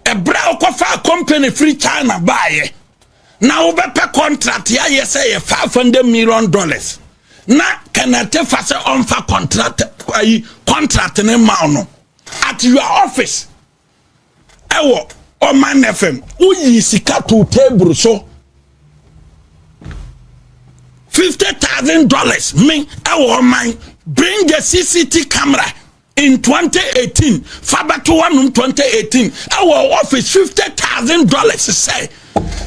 ɛberɛ a wokɔfaa company firi china baeɛ na wobɛpɛ contract yɛayɛ sɛ yɛ 500 million dollars na kɛnɛte fa sɛ ɔmfa contract ayi contract ne ma no at your office ɛwɔ ɔman fm woyi sika to table so fifty thousand dollars me ɛwɔ ɔman bring the cct camera in twenty eighteen fa bɛto hɔnom twenty eighteen ɛwɔ ɔfis fifty thousand dollars sɛ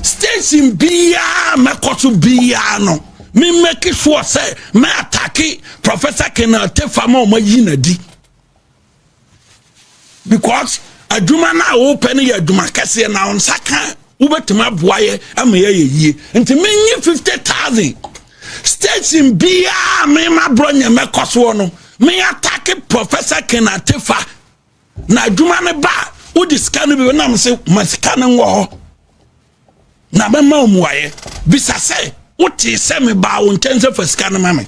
station biara mɛkɔ so biara no me make sure sɛ mɛ atake professor kenal tefa ma ɔma yi na di because adwuma no a wopɛ no yɛ adwuma kɛseɛ na ɔnsa ka Wobɛtumi aboa yɛ ama yɛyɛ yie nti menye fifty thousand station biara mema borɔ nyɛ mɛkɔ soɔ no meatake professor kenatefa na adwuma no ba wode sika no bi nam se ma sika no nwɔ hɔ na mɛma wo mmuaeɛ bisa sɛ wotee sɛ mebaa wo nkyɛn sɛ fa sika no ma me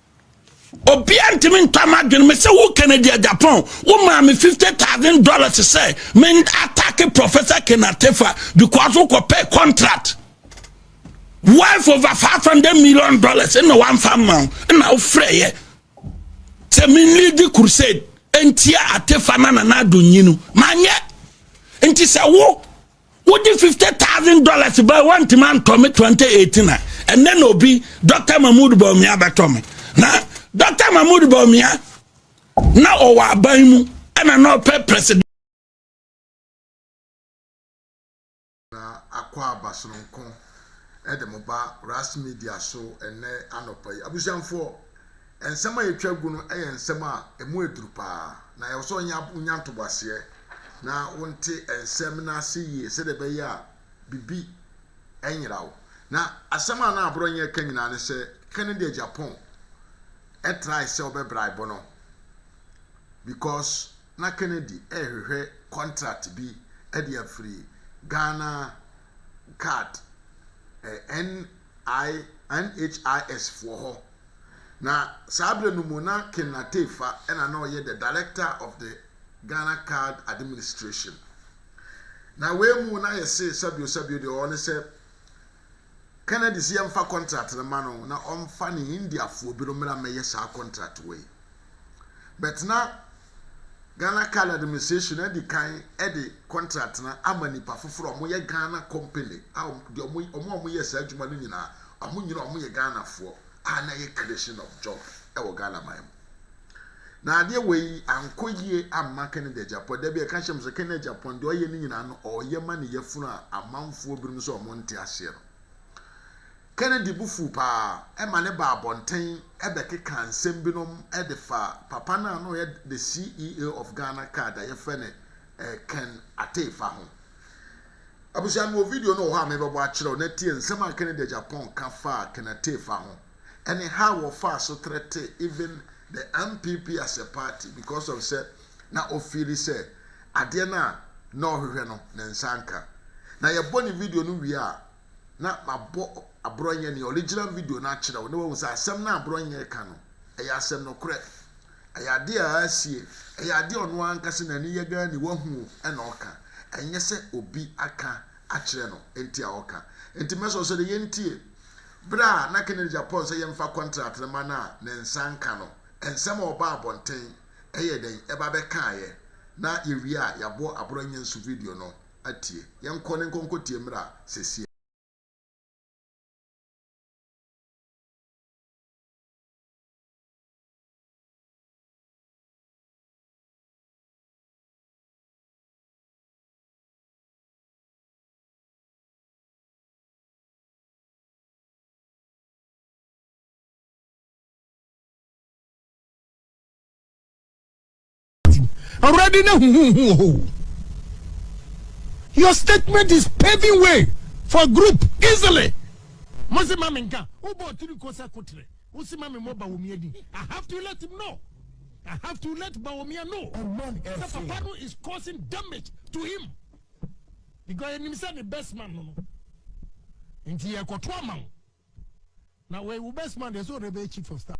obiara ntumi ntɔ ama adwene me sɛ wo kennedy japan wo maa me fifty thousand dollars sɛ men attack professor kenatefa because wokɔ pɛ contract wife over five hundred million dollars ɛna wamfa mma wo ɛna wofrɛ yɛ sɛ men lead crusade ntia atefa na nana adonyi no manyɛ nti sɛ wo wode fifty thousand dollars ba wantumi antɔ me twenty eighteen a ɛnɛ na obi dɔkta mahmood baomia bɛtɔ me na dɔkta mahmood baomia na ɔwɔ aban mu ɛna na ɔpɛ president. na akɔ aba sononko ɛde mo ba ras media so ɛnɛ anɔpa yi abusuamfoɔ. Nsɛm a yɛtwa gu no yɛ nsɛm a ɛmu yɛ duru paa, na ɛwɔ sɛ wonya ntoboaseɛ na wonte nsɛm no ase yie sɛdeɛ ɛbɛyɛ a biribi nyera wo. Na asɛm a na Aborɔnye reka nyinaa ne sɛ Kennedy Agyapong trae sɛ ɔbɛbraibo no because na Kennedy rehwehwɛ contract bi de afiri Ghana Guard, eh, N. I, NHIS foɔ hɔ. Na saa berɛ no mu na Ken Ateifa na na ɔyɛ the director of the Ghana card administration. Na wei mu na yɛsee sɛbio sɛbio deɛ ɔwɔ ne sɛ Kennedy sɛ yɛmfa contract no ma no na ɔmfa ne Indiafoɔ bi no mmra mmɛyɛ saa contract wei. But na Ghana Card Administration adi kan de contract no ama nnipa foforɔ a wɔyɛ Ghana company a deɛ wɔn a wɔyɛ saa adwuma no nyinaa wɔn nyinaa wɔyɛ Ghanafoɔ a na ɛyɛ creation of job wɔ Ghana man mu. Na adeɛ wɔ yi ankɔ yie amma Kennedy Agyapong da bi ɛka kyerɛ me sɛ Kennedy Agyapong deɛ ɔyɛ no nyinaa no ɔyɛ ma ne yafunu a amanfoɔ binom sɛ wɔn nte aseɛ no. Kennedy bo fuw paa ma ne baa abɔnten bɛkekaa nsɛm binom de faa papa no a na ɔyɛ the CEO of Ghana card a yɛfrɛ no Ken Ateifa ho. Abusua, mewɔ video no wɔ hɔ a mebɛbɔ akyerɛ wo na tie nsɛm a Kennedy Agyapong ka faa Ken Ateifa ho ne how wɔfaa so threatee even the NPP as a party because of sɛ na ɔfeeli sɛ adeɛ no a na ɔhwehwɛ no ne nsa nka. Na yɛbɔ ne video no wie a, na mabɔ Aborɔnyɛ ne original video no akyerɛ wo na woahu sɛ asɛm no a Aborɔnyɛ reka no, ɛyɛ asɛm nokorɛ. Ɛyɛ adeɛ a asie. Ɛyɛ adeɛ a ɔno ankasa n'ani yɛ Ghana ni wahu na ɔka. Ɛnyɛ sɛ obi aka akyerɛ no nti a ɔka. Nti mɛsrɛ wo sɛ deɛ yɛntie. Berɛ a na Kennedy Agyapong sɛ yɛmfa kɔntrat no ma no a ne nsa nka no, nsɛm a ɔbaa abɔnten yɛɛ dɛn? Ɛba bɛkaaeɛ na yɛwie a yɛabɔ Aborɔnyɛ nso video no. atie. Yɛnkɔ ne nkɔnkɔtie mmra sesie. Awurade na huhuhu wɔ hɔ o. Your statement is paving way for a group easily. Mosi ma menka. Ubo tiri ko sa kutre. Usi ma me mo bawomia di. I have to let him know. I have to let bawomia know. Omon That FC. papa no is causing damage to him. Because yɛnim sɛ ne best man no no. Nti yɛkɔto ama wo. Na wei wo best man deɛ sɛ ɔde bɛyɛ chief of staff.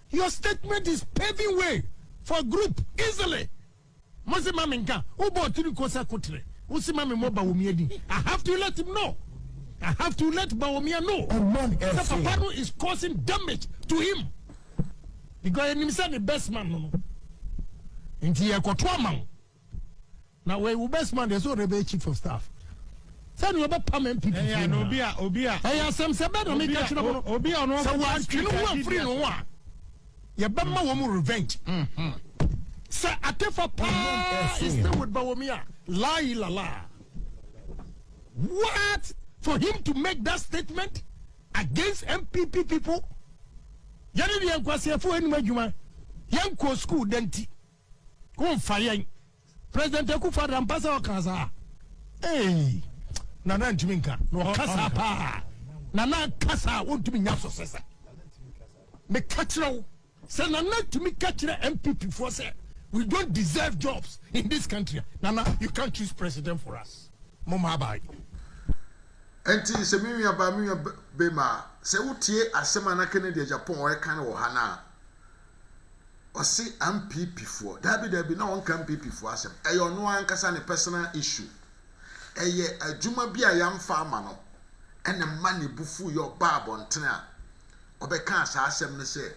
Your statement is paving way for group easily mo se ma me nka wo bɔ ɔtiri ko sɛ kotere wo se ma me mɔ bawomia din I have to let him know I have to let bawomia know sɛ papa no is causing damage to him because yɛnim sɛ ne best man no no nti yɛkɔto ama wo na wɔyɛ wo best man deɛ sɛ ɔdɛ bɛyɛ chief of staff sɛdeɛ ɔbɛpam npp ɛyɛ no obi a obi a ɛyɛ asɛm sɛ bɛɛ na ɔmo ka kyerɛ mo no obi a ɔno sɛ wɔatwe no ho afiri no ho a yɛbɛma wɔn mu revenge sɛ atefa paa istewood ba wɔn a lai lala what for him to make that statement against npp people yɛne deɛ nkwaseɛfoɔ anim adwuma yɛnkɔɔ school dɛnti Wo nfa yɛn. President Akufo Addo ampa sɛ ɔka saa? Eii Nana ntumi nka na ɔka saa paa. Nana ka saa wontumi nya so sesa. Meka kyerɛ wo sɛ Nana tumi ka kyerɛ MPP foɔ sɛ we don't deserve jobs in this country Nana you can't choose president for us. Mo ma aba yi. Ɛnti sɛ me nua baa me nua bema sɛ wo tie asɛm a na Kennedy Agyapong ɔreka no wɔ ha no a. Ɔse ampp foɔ. Daabi daabi na ɔnka ampp foɔ asɛm. Ɛyɛ ɔno ara ankasa ne personal issue. Ɛyɛ adwuma bi a yamfa ama no ɛna ɛma ne bo fuu yɛ ɔbaa abɔntene a ɔbɛkaa saa asɛm no sɛ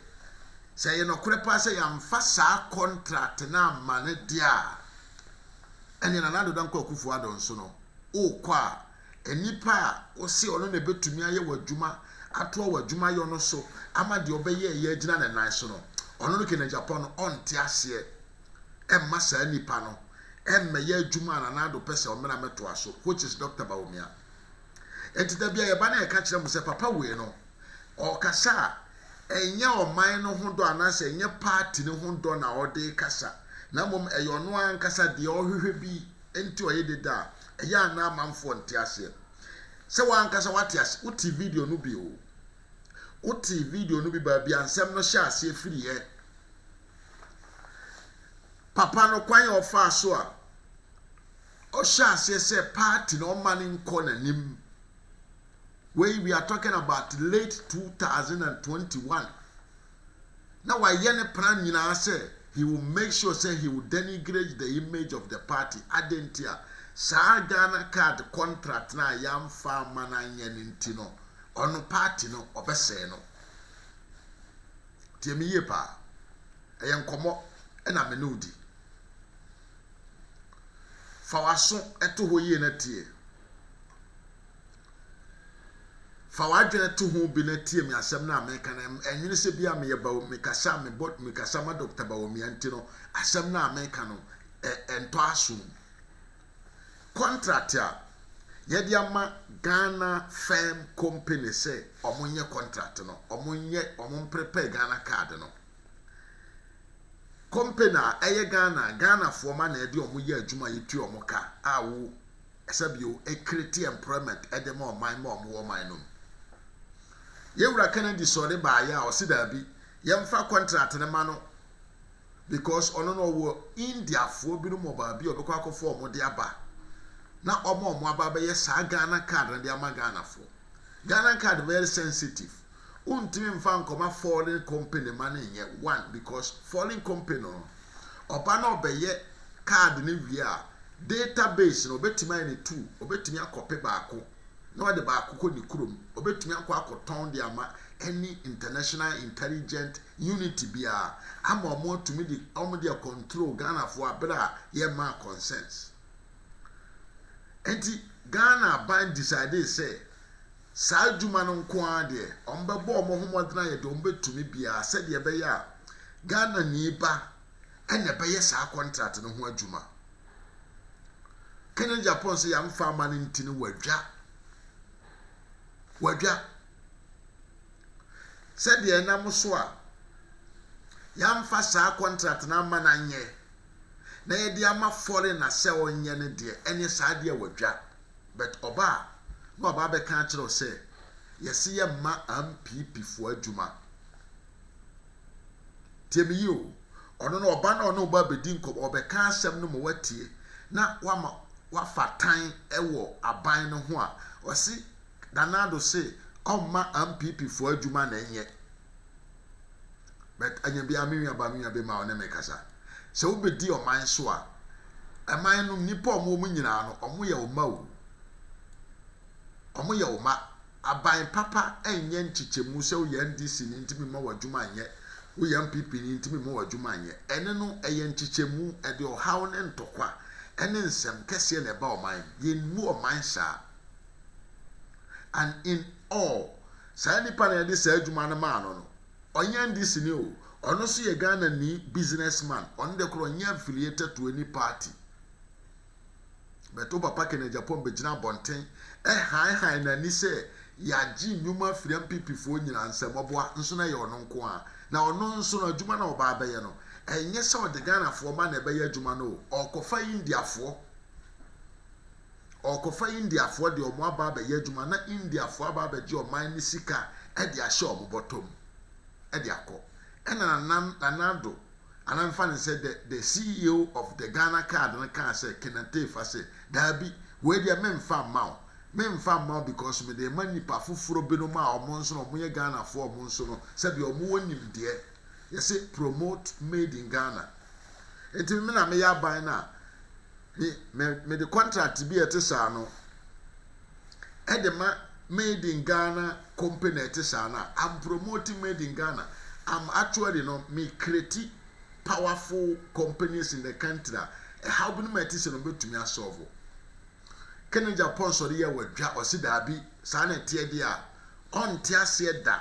sɛ ɛyɛ nɔkorɛ paa sɛ yamfa saa contract no amma no deɛ a ɛneɛ Nana Addo Dankwa Akufo Addo nso no wokɔ a Nnipa a ose ɔno na ebetumi ayɛ w'adwuma, atoa w'adwumayɔ no so ama deɛ ɔbɛyɛeɛ agyina ne nan so no, ɔno no Kenegyapo no ɔnte aseɛ. Ɛmma saa nipa no mmɛyɛ adwuma a Nana Addo pɛ sɛ ɔmmra mmɛtoa so, which is Doctor Bawumia. Enti da bi a yɛba na yɛka kyerɛ mo sɛ papa wei no, ɔɔkasa a, ɛnyɛ ɔman no ho dɔ anaasɛ ɛnyɛ party no ho dɔ na ɔde rekasa, na mmom ɛyɛ ɔno ankasa deɛ ɔhwehwɛ bi nti ɔye deda a, Ɛyɛ a na amanfoɔ nte aseɛ sɛ wo ankasa woate aseɛ. Wotee video no bi o. Wotee video no bi baabi a nsɛm no hyɛ aseɛ firiiɛ. Papa no kwan a ɔfaa so a ɔhyɛ aseɛ sɛ party na ɔma no nkɔ n'anim. Wei we are talking about late 2021. na wayɛ ne plan nyinaa sɛ he will make sure sɛ he will denigrate the image of the party adɛn nti a saa Ghana card contract no a yɛamfa amma no anyɛ no nti no ɔno party no ɔbɛsɛe no tie me yie paa ɛyɛ nkɔmmɔ ɛna me ne wo di Fa w'aso to hɔ yie na tie. Fa w'adwene to ho bi na tie me asɛm no a meka no. Ɛnwene sɛ bia meyɛ ba mekasa a mebɔ mekasa ma Dɔkta Bawumia nti no asɛm no a meka no ɛntɔ aso mu. Kɔntrat a yɛde ama Ghana firm company sɛ wɔnyɛ kɔntrat no, wɔnyɛ wɔn prepare Ghana card no. Company a ɛyɛ Ghana a Ghanafoɔ ma na ɛde wɔn yɛ adwuma yɛtua wɔn ka a wo ɛsɛ bio ɛcreate employment ɛde ma ɔman ma wɔn wɔ ɔman no mu. Yɛn wura Kennedy sɔre baeɛ a ɔse daabi yɛmfa contract no ma no because ɔno no ɔwɔ Indiafoɔ binom wɔ baabi a ɔbɛkɔ akɔfa wɔn de aba na ɔma wɔn aba abɛyɛ saa Ghana card no de ama Ghanafoɔ. Ghana card very sensitive Wontumi mfa nkɔma foreign company ma no nyɛ one because foreign company no ɔba na ɔbɛyɛ card no wie a data base no ɔbɛtumi ayɛ no two, ɔbɛtumi akɔpe baako na ɔde baako kɔ ne kurom, ɔbɛtumi akɔ akɔtɔn de ama any international intelligent unit biara ama wɔn atumi de wɔn de control Ghanafoɔ a berɛ a yɛmmaa concerns. Nti Ghana aban decidee sɛ Saa adwuma no nko ara deɛ, wɔbɛbɔ wɔn ho mmɔden ayɛ deɛ wɔbɛtumi biara sɛdeɛ ɛbɛyɛ a Ghanani ba na ɛbɛyɛ saa kɔntrat no ho adwuma. Kennedy Aponah sɛ yɛamfa ama no nti no wadwa. Wadwa. Sɛdeɛ ɛnam so a yɛamfa saa kɔntrat no ama no anyɛ na yɛde ama foreigner sɛ ɔnyɛ no deɛ, ɛneɛ saa deɛ wadwa. But ɔba a na waba abɛka akyerɛ wo sɛ yɛse yɛ mma ampp foɔ adwuma. Tie me yie o, ɔno no ɔba na ɔne wo ba abɛdi nkɔmɔ, ɔbɛka asɛm no ma woatie na wama wafa tan wɔ aban no ho a, ɔse Nana Addo se ɔmma ampp foɔ adwuma na ɛnyɛ. But anya biara me nua ba me nua bɛma ɔne me kasa. Sɛ wobɛdi ɔman so a, ɛman no nnipa a wɔwɔ mu nyinaa no, wɔyɛ wo mma o. Wɔyɛ wo mma. Aban papa nyɛ nkyekyɛmu sɛ woyɛ NDC ni nti memma w'adwuma nyɛ, woyɛ NPP ni nti memma w'adwuma nyɛ. Ɛne no ɛyɛ nkyekyɛmu, ɛde ɔhaw ne ntɔkwa ne nsɛm kɛseɛ na ɛba ɔman. Yɛnmu ɔman saa. And in all, Saa nipa na yɛde saa adwuma no maa no no, ɔnyɛ NDC ni o, ɔno nso yɛ Ghanani business man, ɔno deɛ koraa ɔnyɛ affiliated to any party. But wo papa Ken Agyapong bɛgyina abɔnten ɛhanhan n'ani sɛ yɛagye nnwuma afiri NPP foɔ nyinaa nsam, ɔboa nso na ɛyɛ ɔno nko ara. Na ɔno nso no adwuma no a ɔba abɛyɛ no, ɛnyɛ sɛ ɔde Ghanafoɔ mma na ɛbɛyɛ adwuma no o, ɔrekɔfa Indiafoɔ. Ɔrekɔfa Indiafoɔ deɛ wɔn aba abɛyɛ adwuma na Indiafoɔ aba abɛgye ɔman no sika de ahyɛ wɔn bɔtɔ mu de akɔ. Ɛna Nana Nana Addo, anaa memfa no sɛ the the CEO of the Ghana card no kaa sɛ Kenneth Teefa sɛ, daabi, wei deɛ memfa mma wo. Memfa mma wo because mede rema nnipa foforɔ binom a wɔn nso no wɔyɛ Ghanafoɔ a wɔn nso no sɛdeɛ wɔwɔ nimdeɛ. yɛse promote made in Ghana nti me na meyɛ aban no a me me mede contract bi a ɛte saa no ɛde ma made in Ghana company a ɛte saa no a I'm promoting made in Ghana I'm actually no me create powerful companies in the country a ɛhaw bi no ma ɛte sɛ no bɛtumi asɔɔvo kene Japan sɔre yɛ wadwa ɔse daabi saa na ɛteɛ deɛ a ɔnte aseɛ da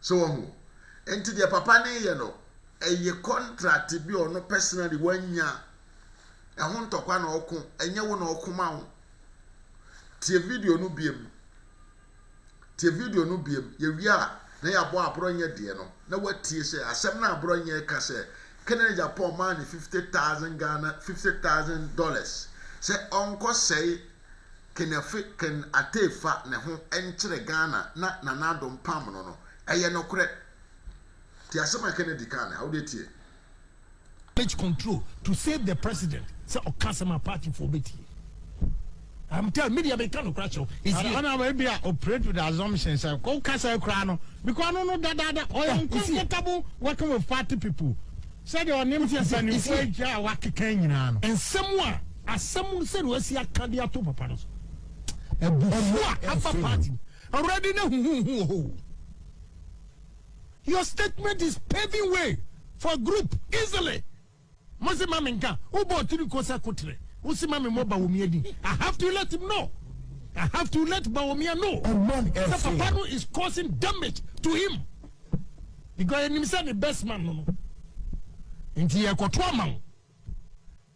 So wahu? Nti deɛ papa no yɛ no, ɛyɛ contract bi ɔno personally wanya. Ɛho ntɔkwa na ɔko, ɛnyɛ wo na ɔko ma wo. Tie video no biem. Tie video no biem. Yɛwie a, na yɛabɔ aborɔnyɛ deɛ no, na watie sɛ asɛm no aborɔnyɛ reka sɛ Kennedy Agyapong maa no 50,000 Ghana, 50,000 dollars sɛ ɔnkɔsɛe Kenefe Ken Atey fa ne ho nkyerɛ Ghana na Nana Addo mpam no no, ɛyɛ nokorɛ. Tie asɛm a Kennedy kaa no ha, wodeɛ tie. damage control to save the president sɛ ɔka asɛm a party foɔ bɛtie I'm tell me deɛ meka nokora kyerɛ wo is here. Ɛna ebi a operate with the assumption sɛ woka saa koraa no because no no dadaada ɔyɛ uncomfortable working with party people. Sɛdeɛ ɔne mpanimfoɔ agya a wɔakeka nyinaa no. Nsɛm a asɛm sɛdeɛ wɔasi aka de ato papa no so. Abufuo a aba party mu. Awurade na huhuhu wɔ hɔ o. Your statement is paving way for a group easily. Mo se ma me nka, wo bɔ ɔtiri ko sɛ kotere. Wo se ma me mmɔ Bawomia din. I have to let him know. I have to let Bawomia know. Sɛ papa no is causing damage to him. Because yɛ nim sɛ ne best man no no. Nti yɛ kɔto ama wo.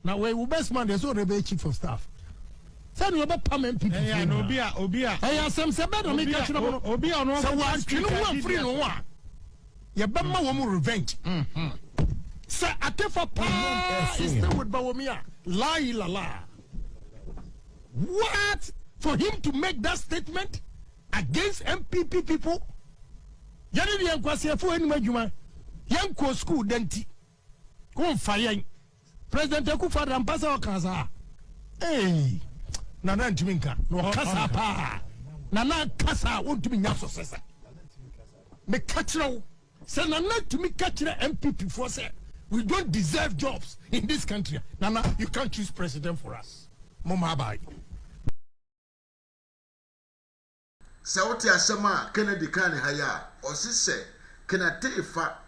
Na wɔ wo best man deɛ sɛ ɔde bɛyɛ chief of staff. Sɛ ne ɔbɛ pam MPP. Ɛyɛ na obi a obi a. Ɛyɛ asɛm sɛ bɛɛ na mi ka kyerɛ mo no. Obi a ɔno. Sɛ wɔn atwi no ho afiri no ho a. Yɛ bɛ ma wɔn revenge. Mm-hmm sɛ akefa paa is still with bawomi a laayi lala what for him to make that statement Against NPP people Yɛne deɛ nkwaseɛfoɔ anim adwuma Yɛnkɔɔ school da nti Womfa yɛn President Akufo Addo ampa sɛ ɔkaa saa Eii Nana ntumi nka na ɔka saa paa Nana ka saa wontumi nya so sesa Meka kyerɛ wo sɛ Nana tumi ka kyerɛ NPP foɔ sɛ we don't deserve jobs in this country Nana you can't choose president for us Moma abae Sɛ wote asɛm a Kennedy kaa ne ha yi a, ɔse sɛ Kennetee fa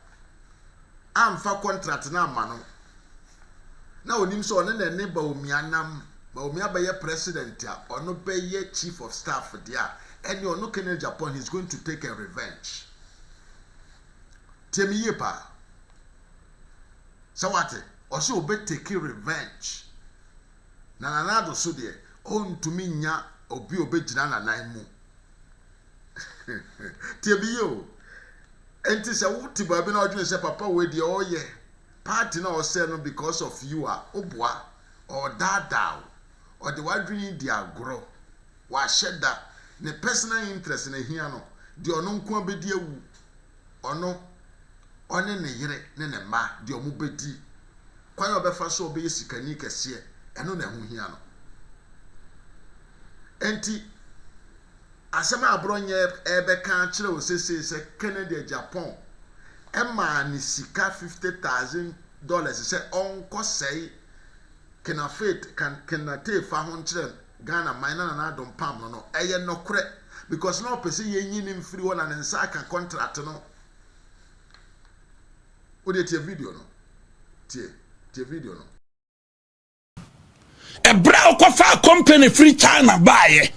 amfa kɔntrat no amma no, na onim sɛ ɔne na ɛne Bawumia nam, Bawumia bɛyɛ president a ɔno bɛyɛ chief of staff deɛ a, ɛneɛ ɔno Kennedy Aponah he's going to take a revenge. Tie me yie paa. Sɛ wate, ɔse obɛ take revenge. na Nanado so deɛ, ɔntumi nnya obi a ɔbɛgyina n'anan mu. Tie me yie o. Enti sɛ wote baabi na ɔdwene sɛ papa wei deɛ ɔreyɛ party na ɔsɛ no because of you a, woboa. Ɔredaadaa wo. Ɔde w'adwene di agorɔ. Wahyɛ da. Ne personal interest na ɛhia no. Deɛ ɔno nko ara bɛdi awu. ɔno, ɔne ne yere ne ne mma deɛ wɔbɛdi, kwan a ɔbɛfa so a ɔbɛyɛ sikani kɛseɛ, ɛno na ɛho hia no. Enti, asɛm a Aborɔnyɛ ɛrebɛka akyerɛ wo sesei sɛ Kennedy Agyapong maa ne sika fifty thousand dollars sɛ ɔnkɔsɛe Kenafate, Kan, Kenate fa ho nkyerɛ Ghana man na Nana Addo mpam no no ɛyɛ nɔkorɛ because na ɔpɛ sɛ yɛnyi no mfiri hɔ na ne nsa aka contract no wodeɛ tie video no tie tie video no. Ɛberɛ a wokɔfaa company firi China baeɛ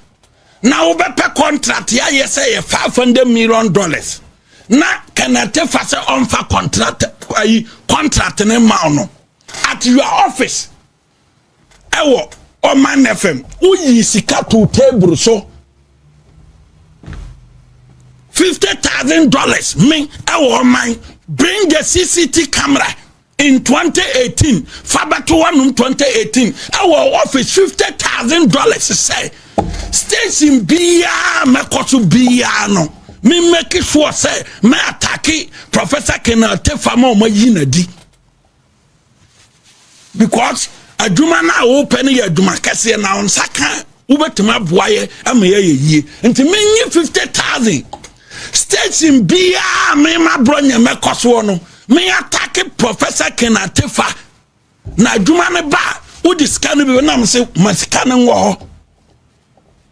na wobɛpɛ contract yɛayɛ sɛ yɛ five hundred million dollars na Kenneth Tefa sɛ ɔmfa contract ayi contract ne ma no at your office ɛwɔ ɔman fam woyii sika too table so fifty thousand dollars me ɛwɔ ɔman bring a cct camera in 2018 fa bɛto wanom 2018 ɛwɔ office fifty thousand dollars sɛ station biara mɛkɔ so biara no me mmɛki soɔ sɛ mɛ atake professor kenal tefa ma ɔma yi na di because adwuma no a wopɛ no yɛ adwuma kɛseɛ na wo nsa ka wobɛtumi aboa yɛ ama yɛyɛ yie nti menye 50000 station biaa mema borɔ nyɛ mɛkɔ soɔ no meatake professor kenatefa na adwuma no ba a wode sika no bi nam se ma sika no nwɔ hɔ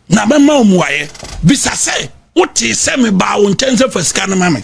na mɛma wo mmuaeɛ bisa sɛ wotee sɛ mebaa wo nkyɛn sɛ fa sika no ma me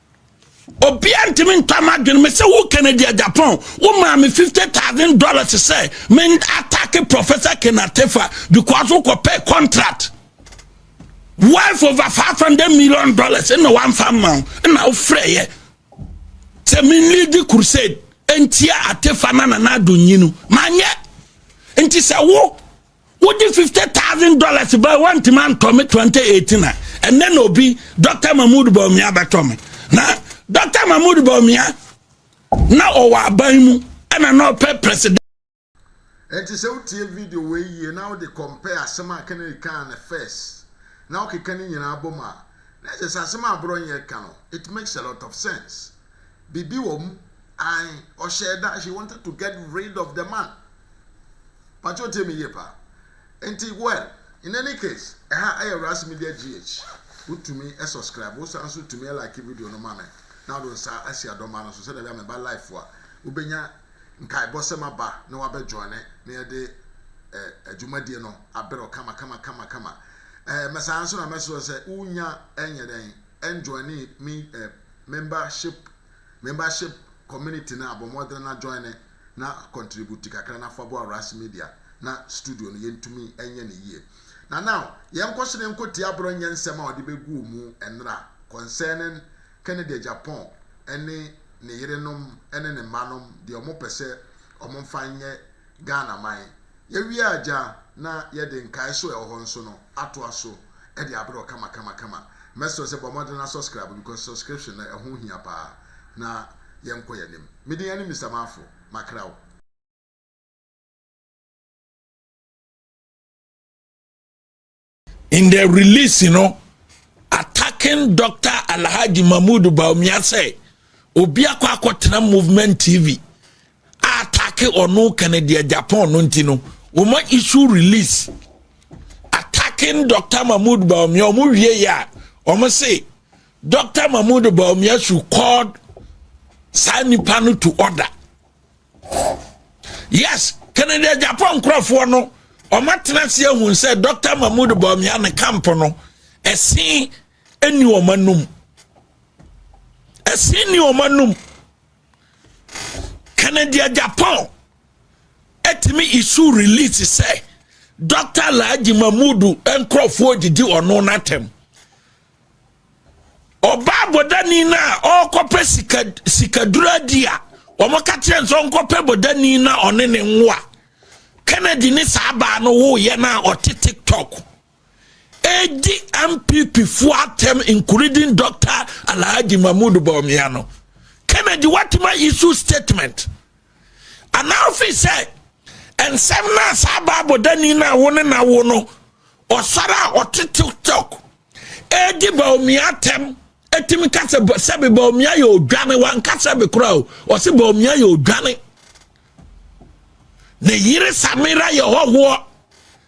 obiara ntumi ntɔ ama adwene me sɛ wo kennedy japan wo maa me fifty thousand dollars sɛ me atake professor kenatefa because wokɔ pɛ contract wife over five hundred million dollars ɛna wamfa mma wo ɛna wofrɛ yɛ sɛ me lead crusade ntia atefa na nana adonyi no manyɛ nti sɛ wo wode fifty thousand dollars ba wantumi antɔ me twenty eighteen a ɛnɛ na obi dɔkta mahmood bawumia bɛtɔ me na dɔkta mahmood bawumia na ɔwɔ aban mu ɛna na ɔpɛ president. ɛnti sɛ wotie video wei yie na wode compare asɛm a kennedy kaa no first na wokeka ne nyinaa bom a na ɛkyɛ sɛ asɛm a aborɔnyɛ ka no it makes a lot of sense. Biribi wɔ mu ae ɔhyɛɛ da she wanted to get rid of the man pakyɛ otie me yie paa nti well in any case ɛha ɛyɛ Ras Media GH wotumi subscribe wosan nso tumi like video no ma me na wode nsa asi adɔma no so sɛdeɛ bia meba life a wobɛnya nkaebɔ sɛm aba na wabɛ joine na yɛde adwumadie no aberɛ kama kama kama kama mɛsan nso na mɛsrɛ sɛ wonya ɛnyɛ dɛn ɛnjoine me Membership, Membership community no a bɔ mmɔden na join ne na contribute kakra na fa boa Ras Media na studio no yɛntumi nyɛ no yie. Na now yɛnkɔ so na yɛnkɔ tie Abro nyɛ nsɛm a ɔde bɛgu ɔmu nnra concerning Kennedy Agyapong ne ne yerenom ne ne mma nom deɛ ɔmo pɛ sɛ ɔmo mfa nyɛ Ghana man. Yɛwie a gya na yɛde nkaeɛso a ɛwɔ hɔ nso no atoa so de abrɛ wo kamakamakama. Mɛsrɛ wo sɛ bɔ mmɔden na sɔskraibe because subscription no ɛho hia paa na yɛnkɔ yɛn anim. Me din ɛne Mister Marfo. Makra wo. in the release you know, attacking dr alhaji mahmood baumia sɛ obi akɔ akɔtena movement tv a attacking ɔno kɛnɛdeɛ japan no nti no wɔma issue release attacking dr mahmood baumia wɔn wie yɛ a wɔn se dr mahmood baumia should call saa nipa no to order yes kennedy agyapɔ nkurɔfoɔ no ɔmatena ase ahu sɛ dr mahmood bɔmia ne camp no ɛsen ni wɔn anum ɛsen ni wɔn anum kennedy agyapɔ ɛtumi isu release sɛ dr alhaji mahmood nkurɔfoɔ didi ɔno n'atɛm Ɔbaa bɔdani no a ɔrekɔpɛ sika sikaduro adi a wɔka kyerɛ nso ɔnkɔpɛ bɔdani na ɔne ne nwoa Kennedy ne saa baa no woyɛ no a ɔte TikTok ɛdi MPP fo atɛm including Dr. Alhaji Mahmoud Bawumia no Kennedy watuma issue statement Anaa ɔfii sɛ nsɛm no a saa Bible dani no a wo ne na wo no ɔsɔre a ɔte TikTok ɛredi baomia atɛm ɛtumi ka sɛ sɛbe baomia yɛ odwane wanka sɛbe koraa o ɔse baomia yɛ odwane ne yere Samira yɛ hɔhoɔ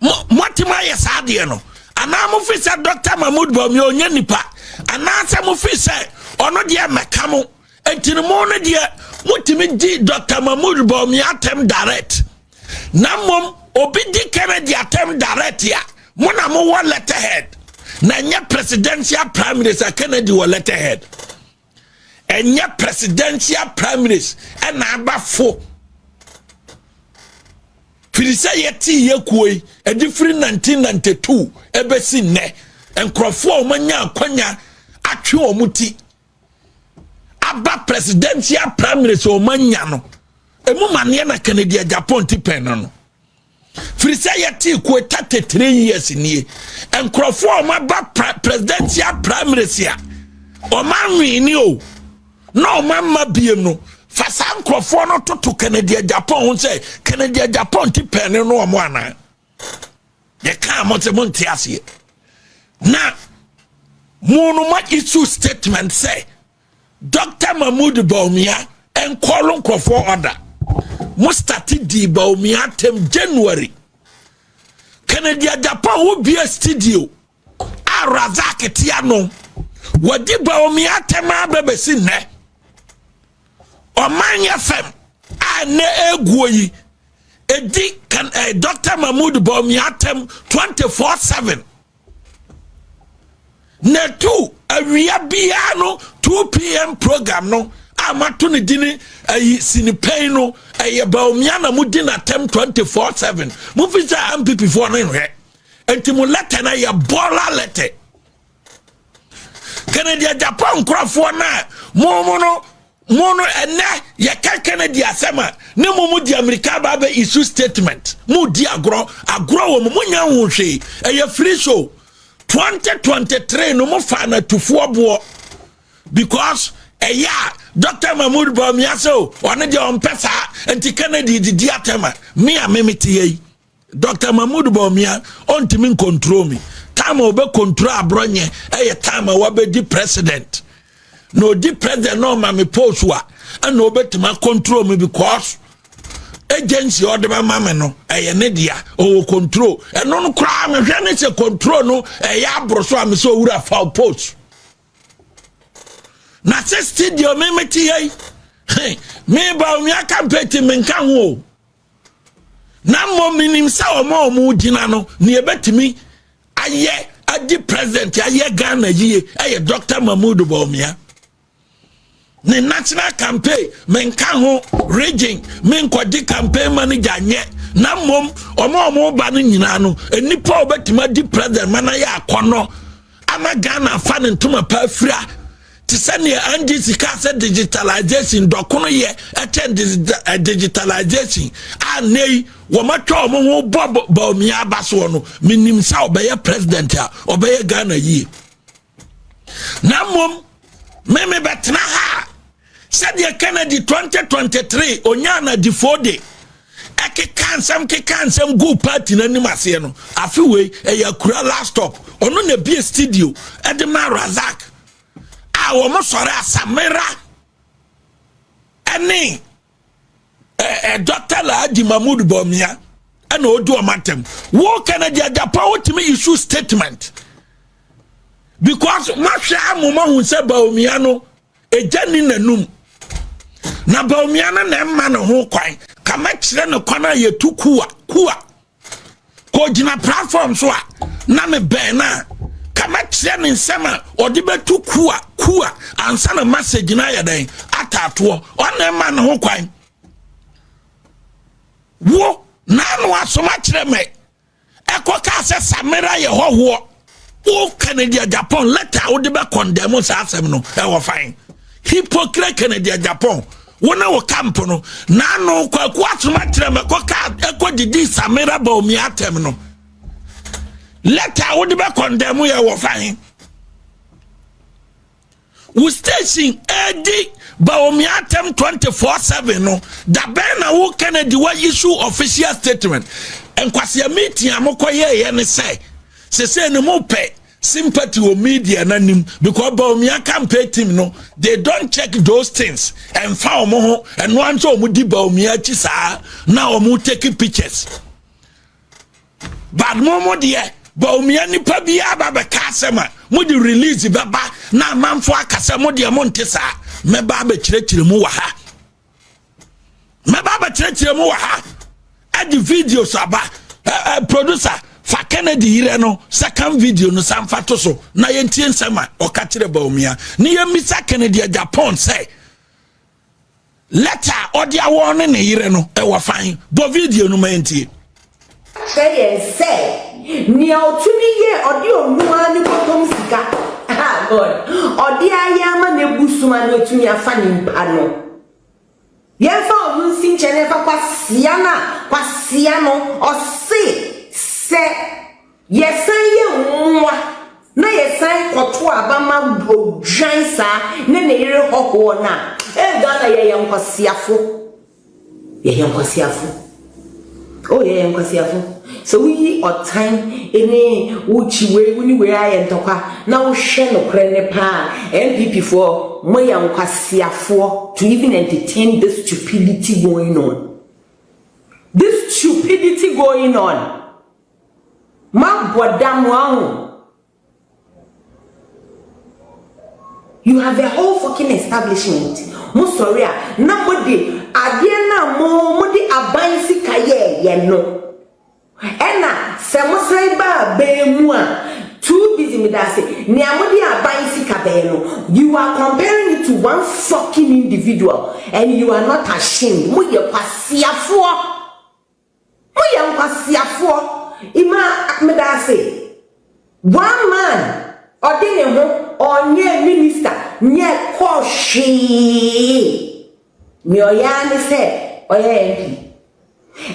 moatumi ayɛ saa adeɛ no anaa mo firi sɛ dr mahmood bɔmi ɔnyɛ nipa anaasɛ mo firi sɛ ɔno deɛ mɛka mo nti no mo no deɛ motumi gye dr mahmood bɔmi atɛm direct na mmom obi di kennedy atɛm direct a mo na mowɔ letterhead na nyɛ presidential prime minister kennedy wɔ letterhead Ɛnyɛ presidential primaries ɛna aba fo. Firi sɛ yɛte yɛ kuo yi, ɛde firi 1992 ɛbɛsi nnɛ, nkurɔfoɔ a wɔanya akwanya atwe wɔn ti aba presidential primaries a wɔanya no, ɛmu maneɛ na Kennedy Agyapong ti pɛn no no. firi sɛ yɛtee koeta te three years nie nkurɔfoɔ a wɔaba presidential primaries a wɔanwene o na wɔamma bie no fa saa nkurɔfoɔ no toto kennedy japan ho sɛ kennedy japan ti pɛne no wɔn anaa yɛkaa mo sɛ monte aseɛ na mo no ma issue statement sɛ Dɔkta Mahmoud Bawumia nkɔɔlo nkurɔfoɔ ɔda. Mo starte dii Bawumia atɛm January. Kennedy Agyapong wo bie studio a Razak te ano. Wadi Bawumia atɛm a bɛbɛsi nnɛ. Ɔman yɛ fam a nnɛ ɛguo yi ɛdi kan eh, Dr. Mahmoud Bawumia atɛm 24-7. na ɛtu awia biara no 2 pm program no a mato no dini ayi sinipɛn no ɛyɛ baomia na modi n'atɛm 24/7 mofi sɛ ampipifoɔ no nhwɛ nti mo lɛtɛ no yɛ bɔla lɛtɛ kennedy japan nkurɔfoɔ no a mo mo no Mo no ɛnɛ yɛka Kennedy asɛm a ne mo mo de Amerika aba abɛ issue statement mo di agorɔ agorɔ wɔ mo mo nya ho hwee ɛyɛ free show 2023 no mo fa na tufoɔ boɔ because ɛyɛ a Dr. Mahmoud Bawumia sɛ o ɔne deɛ ɔmpɛ saa nti Kennedy didi atɛm a me a me mete yɛ yi Doctor Mahmoud Bawumia ɔntumi nkontrol me time a ɔbɛ control aborɔ nyɛ ɛyɛ time a wabɛdi president na ɔdi president na ɔma me post a ɛna ɔbɛtumi akontrol me because agency a ɔde bɛma me no ɛyɛ ne dea ɔwɔ control ɛno no koraa mehwɛ ne sɛ control no ɛyɛ aboro so a me sɛ ɔwura fa post na sɛ studio me mete yɛi me Bawumia campaign ti menka ho o na mmom menim sɛ wɔn a wɔn gyina no nea ebetumi ayɛ adi president ayɛ ghana yie ɛyɛ dr mahmood bawumia ne national campaign menka ho region menkɔgye campaign manager nyɛ na mmom wɔn a wɔn ba no nyinaa no nnipa a wɔbɛtumi adi president ma no ayɛ akɔnɔ Ama Ghana afa ne ntoma pa afira te sɛ nea NGC kaa sɛ digitalization dɔkono yɛ ɛkyɛn eh, digitalization a nnɛ yi wɔatwa wɔn ho bɔ baomia aba soɔ no menim sɛ ɔbɛyɛ president a ɔbɛyɛ Ghana yie na mmom me mebɛtena ha a Sɛdeɛ Kennedy twenty twenty three onyaa n'adifoɔ de ɛkeka nsɛm keka nsɛm gu party no anim aseɛ no afe wei ɛyɛ akura last stop ɔno na ebie studio ɛde ma Razak a wɔn sɔre asamera ɛne ɛɛ dɔkta Alhaji Mahmood Bawumia ɛna odi wɔn atɛm wo Kennedy Agyapong wotumi issue statement because mahwɛ amu mahu sɛ Bawumia no. Egya ni n'anum, na Baomia no na ɛma ne ho kwan. Ka mɛkyerɛ no kwan a yɛtu kuwa kuwa. Kɔgyina platform so a na me bɛn no a ka mɛkyerɛ ne nsɛm a ɔde bɛtu kuwa kuwa ansa na message no ayɛ dɛn ataatoɔ. Ɔna ɛma ne ho kwan. Wo na ano asoma kyerɛ me Ɛkɔ kaa sɛ Samira yɛ hɔhoɔ. Wo Kennedy Agyapong letter a wode bɛ condemn saa asɛm no ɛwɔ fan. Hypocrite Kennedy Agyapong. Wo ne wo camp no. N'ano kwaku asoma kyerɛ mɛ kɔ kaa ɛkɔ didi Samira Baomi atɛm no. Letter a wode bɛ condemn yɛ wɔ fan. Wo station ɛdi Bawumia atɛm 24/7 no da bɛn na wo Kennedy wa issue official statement nkwasia meeting a mokɔ yɛɛyɛ ne sɛ sese ne mo pɛ sympathy wɔ media n'anim because Bawumia campaign team no they don't check those things ɛnfa wɔn ho ɛno anso wɔn di Bawumia akyi saa na wɔn take pictures. but mo mo deɛ bawumia nipa biara ba bɛka asɛm a mo de release bɛba na amanfo aka sɛ mo deɛ mo nte saa mɛba abɛkyerɛkyerɛ mu wɔ ha mɛba abɛkyerɛkyerɛ mu wɔ ha ɛde videos aba ɛɛ producer fa kennedy yirɛ no second video no san fa to so na yɛntie nsɛm a ɔka kyerɛ bawumia ne yɛmmisa kennedy japan sɛ Lɛta a ɔde awa ɔne ne yere no wɔ fan. Bɔ video no ma yɛntie. Kyerɛ yɛn sɛ nea ɔtumi yɛ ɔde ɔno ara ne bɔtɔm sika a God ɔde ayɛ ama n'abusom a na otumi afa ne mpa no. Yɛmfa ɔno nsi nkyɛn na yɛmfa kwasea no a kwasea no ɔse sɛ Yɛsan yɛ mmoa na yɛsan kɔto aba ma odwan saa ne ne yere hɔhoɔ no a, ee Ghana yɛyɛ nkwaseafo. Yɛyɛ nkwaseafo. Oh yɛyɛ nkwaseafo. Sɛ woyi ɔtan ne wokyi wei wo ne wei ayɛ ntɔkwa na wohwɛ nokorɛ no paa a, NPP foɔ moyɛ nkwaseafoɔ to even entertain this stupidity going on. This stupidity going on. Mabɔ dam wahu. You have the whole fucking establishment. Mo sɔre a na mo de adeɛ no a mo mo de aban sika yɛɛ yɛ no. Ɛna sɛ mo san ba abɛn mu a too busy me da ase nea mo de aban sika bɛyɛ no you are comparing it to one fucking individual and you are not ashamed mo yɛ kwasiafoɔ. Mo yɛ nkwaseafoɔ imaa medaase one man ɔde ne ho ɔnyɛɛ minister nyɛɛ kɔɔ hwee nea ɔyɛ ara ne sɛ ɔyɛ MP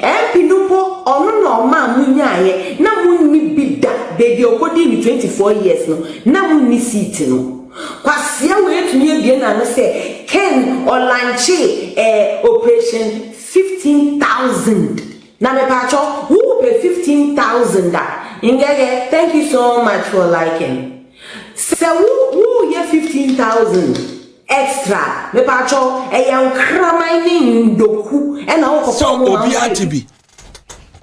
MP no mpo ɔno na ɔmaa mo nyaaeɛ na mo nni bi da baabi a ɔkɔdii no twenty four years no na mo nni seat no kwasea wei atumi abue n'ano sɛ Ken ɔlankyee ɛɛ operation Fifteen thousand na mepaakyɛw wo pɛ fifteen thousand a ngɛgɛ thank you so much for liking sɛ wo wo yɛ fifteen thousand extra a mepaakyɛw ɛyɛ nkraman ne ndoku ɛna wo kɔfa ɔmo ma wo sɛ. Sɛ obi agye bi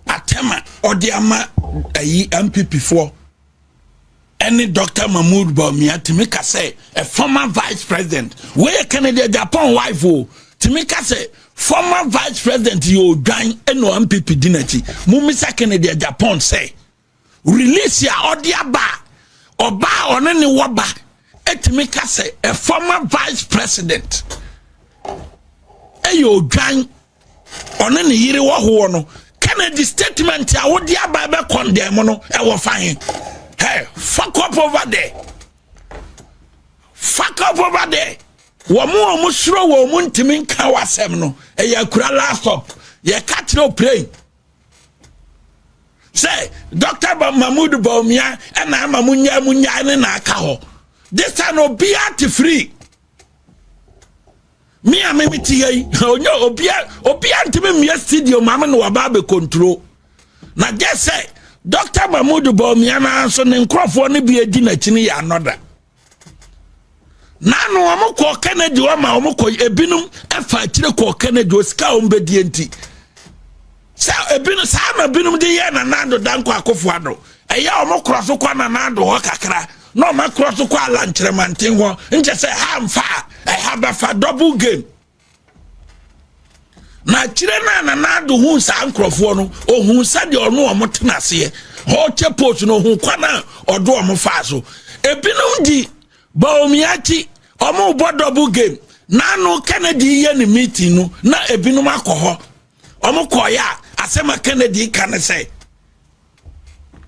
atɛm a ɔde ama ayi mpp foɔ. ɛne Doctor Mahmoud Bawumia tumi ka sɛ a former vice president wei yɛ Kennedy Agyapong wife o tumi ka sɛ former vice president yɛ odwan ɛna MPP di n'akyi mumisa Kennedy Agyapong sɛ release a ɔde aba ɔbaa ɔne ne wɔba ɛtumi ka sɛ a former vice president ɛyɛ odwan ɔne ne yere wɔ hoɔ no kennedy statement a wode aba bɛ condemn no ɛwɔ fa he hey fuck up over there fuck up over there wɔn a wɔn soro wɔn mu ntumi nka w'asɛm no ɛyɛ akura last up yɛka kyerɛ oprey sɛ dr mahmood baumia ɛna ama mo nyaa mo nyaa ne na aka hɔ this time obiara te free me a meme te yɛ yi ɔnyɛ obia obia ntumi mmea studio maame na waba abɛkonturo na gye sɛ dɔkta mahmud bɔmia no ara nso ne nkurɔfoɔ no bi adi n'akyi no yɛ anɔda nanu wɔn kɔ kennedy wɔn ma wɔn kɔ ebinom ɛfa akyire kɔ kennedy osika wɔn bɛdie nti Sɛ ebinom saa na binom de yɛ Nana Addo Dankwa Akufo Addo. Ɛyɛ a wɔkorɔ so kɔ Nana Addo hɔ kakra na wɔakorɔ so kɔ Ala Nkyerɛmanten hɔ. Nkyɛ sɛ ɛha mfa a, ɛha bɛfa double game. Na akyire no a Nana Addo hu saa nkurɔfoɔ no, ɔhu sɛdeɛ ɔno wɔn tena aseɛ. Ɔkyɛ post no ɔhu kwan a ɔde wɔn faa so. Ebinom di Bawumiakyi, wɔn bɔ double game. N'ano Kennedy yɛ ne meeting no na ebinom akɔ hɔ. wɔn kɔɔeɛ a asɛm a kennedy ka ne sɛ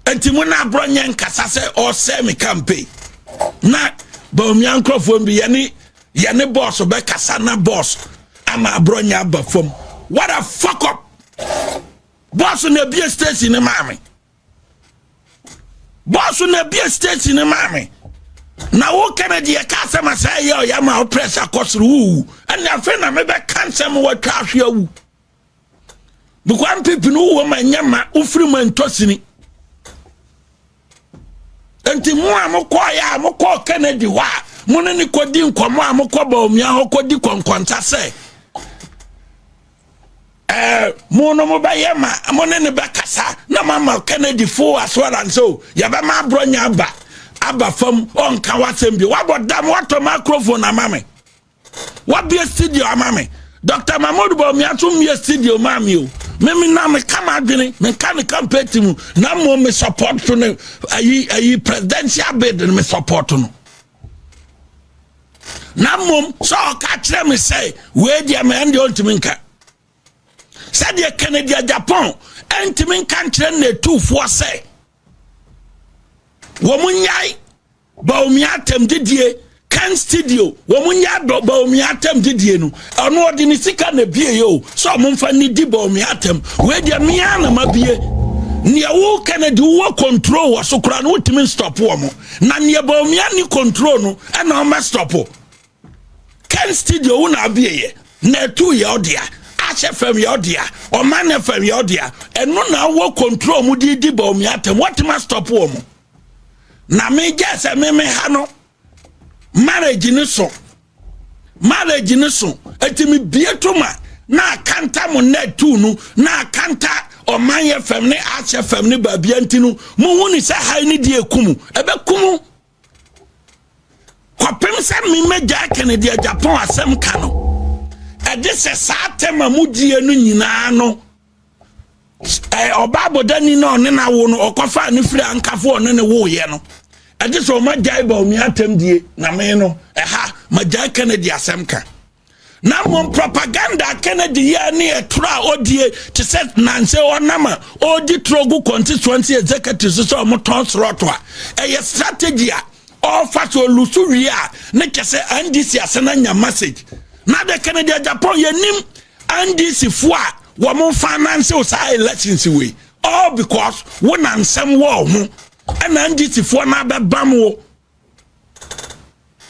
nti mo na aborɔ nyɛ nkasa sɛ ɔsɛe me campaign na baomia nkurɔfoɔ mbi yɛne yɛne bɔɔso bɛkasa na bɔɔso ama aborɔ nyɛ aba fam what a fuck up bɔɔso na ebie station ne maame bɔs na bie station no maa me na wo kennedy yɛ kaa sɛ ma sɛ ɛyɛ ɔyɛ ma wo pressure kɔ soro wowu ɛne afei na mebɛka nsɛm wɔatwa ahwe awu bikwa mpipi no wowɔ ma nyɛ ma wofiri ma ntɔsini nti mo a mokɔɔyɛ a mokɔɔ kennedy hɔ a mo ne ne kɔdi nkɔmmɔ a mokɔ baomia hɔ kɔdi kɔnkɔnsa sɛ Eh, mo no mobɛyɛ ma mo ne ne bɛkasa na mama kennedy full assurance o yɛbɛma aborɔnya aba aba fam ɔnka wasɛm bi wabɔ dam watɔ microphone ama me wabie studio ama me dr mahmood bɔmia so mmie studio maa me o meme na meka m'adwene menka ne campaign ti mu na mmom me support so ne ayi ayi presidential bid no me support no na mmom sɛ ɔka kyerɛ me sɛ wei deɛ ma ɛndeɛ ɔntumi nka sɛdeɛ kennedy japan ɛntumi nka nkyerɛ nnatufoɔ sɛ wɔn nyae baomia atɛm didie kan studio wɔn nyae baomia atɛm didie no ɛno ɔde ne sika na ebie yɛ o sɛ wɔn nfa ne di baomia atɛm wei deɛ mmea na ma bie nea wo kennedy wɔ control wɔ so koraa no wotumi stop wɔn. na neɛ baomia ni control no ɛna ɔmɛ stop o ken studio wo na abie yɛ na ɛtu yɛ ɔdea ahyɛ fam yɛ ɔdea ɔma ne fam yɛ ɔdea ɛno na awɔ control mu de di baomia atɛm wɔtema stop wɔ mo na megya sɛ meme ha no marriage ne so Marriage no so eti me bie to ma na akanta mo nɛ tu no na akanta ɔman yɛ fam ne ahyɛ fam ne baabia nti no mo hu ne sɛ ha ne deɛ ekumu ɛbɛ kumu kɔpem sɛ me mɛgya kene deɛ Japan asɛm ka no ɛde sɛ saa tɛma mo die no nyinaa no ɔba abɔdani na ɔne no awo no ɔkɔfaa ne firi ankafo ɔne ne woyɛ no ɛgye sɛ ɔmagyae baomi atɛm die na me no ɛha magyae kennedy asɛm ka na mmom propaganda kennedy yɛ ne ɛtoro a ɔdie te sɛ nansɛ ɔnam a ɔredi toro gu constituency executive so sɛ ɔmotɔn sorɔto a ɛyɛ strategy a ɔrefa so ɔlusu wie a ne kyɛ sɛ ndc ase no anya message na de kennedy japan yɛnim NDC foɔ a wɔn nfa anansew saa elections wei all because wo na nsɛm wɔ ho ɛna NDC foɔ na abɛbam wo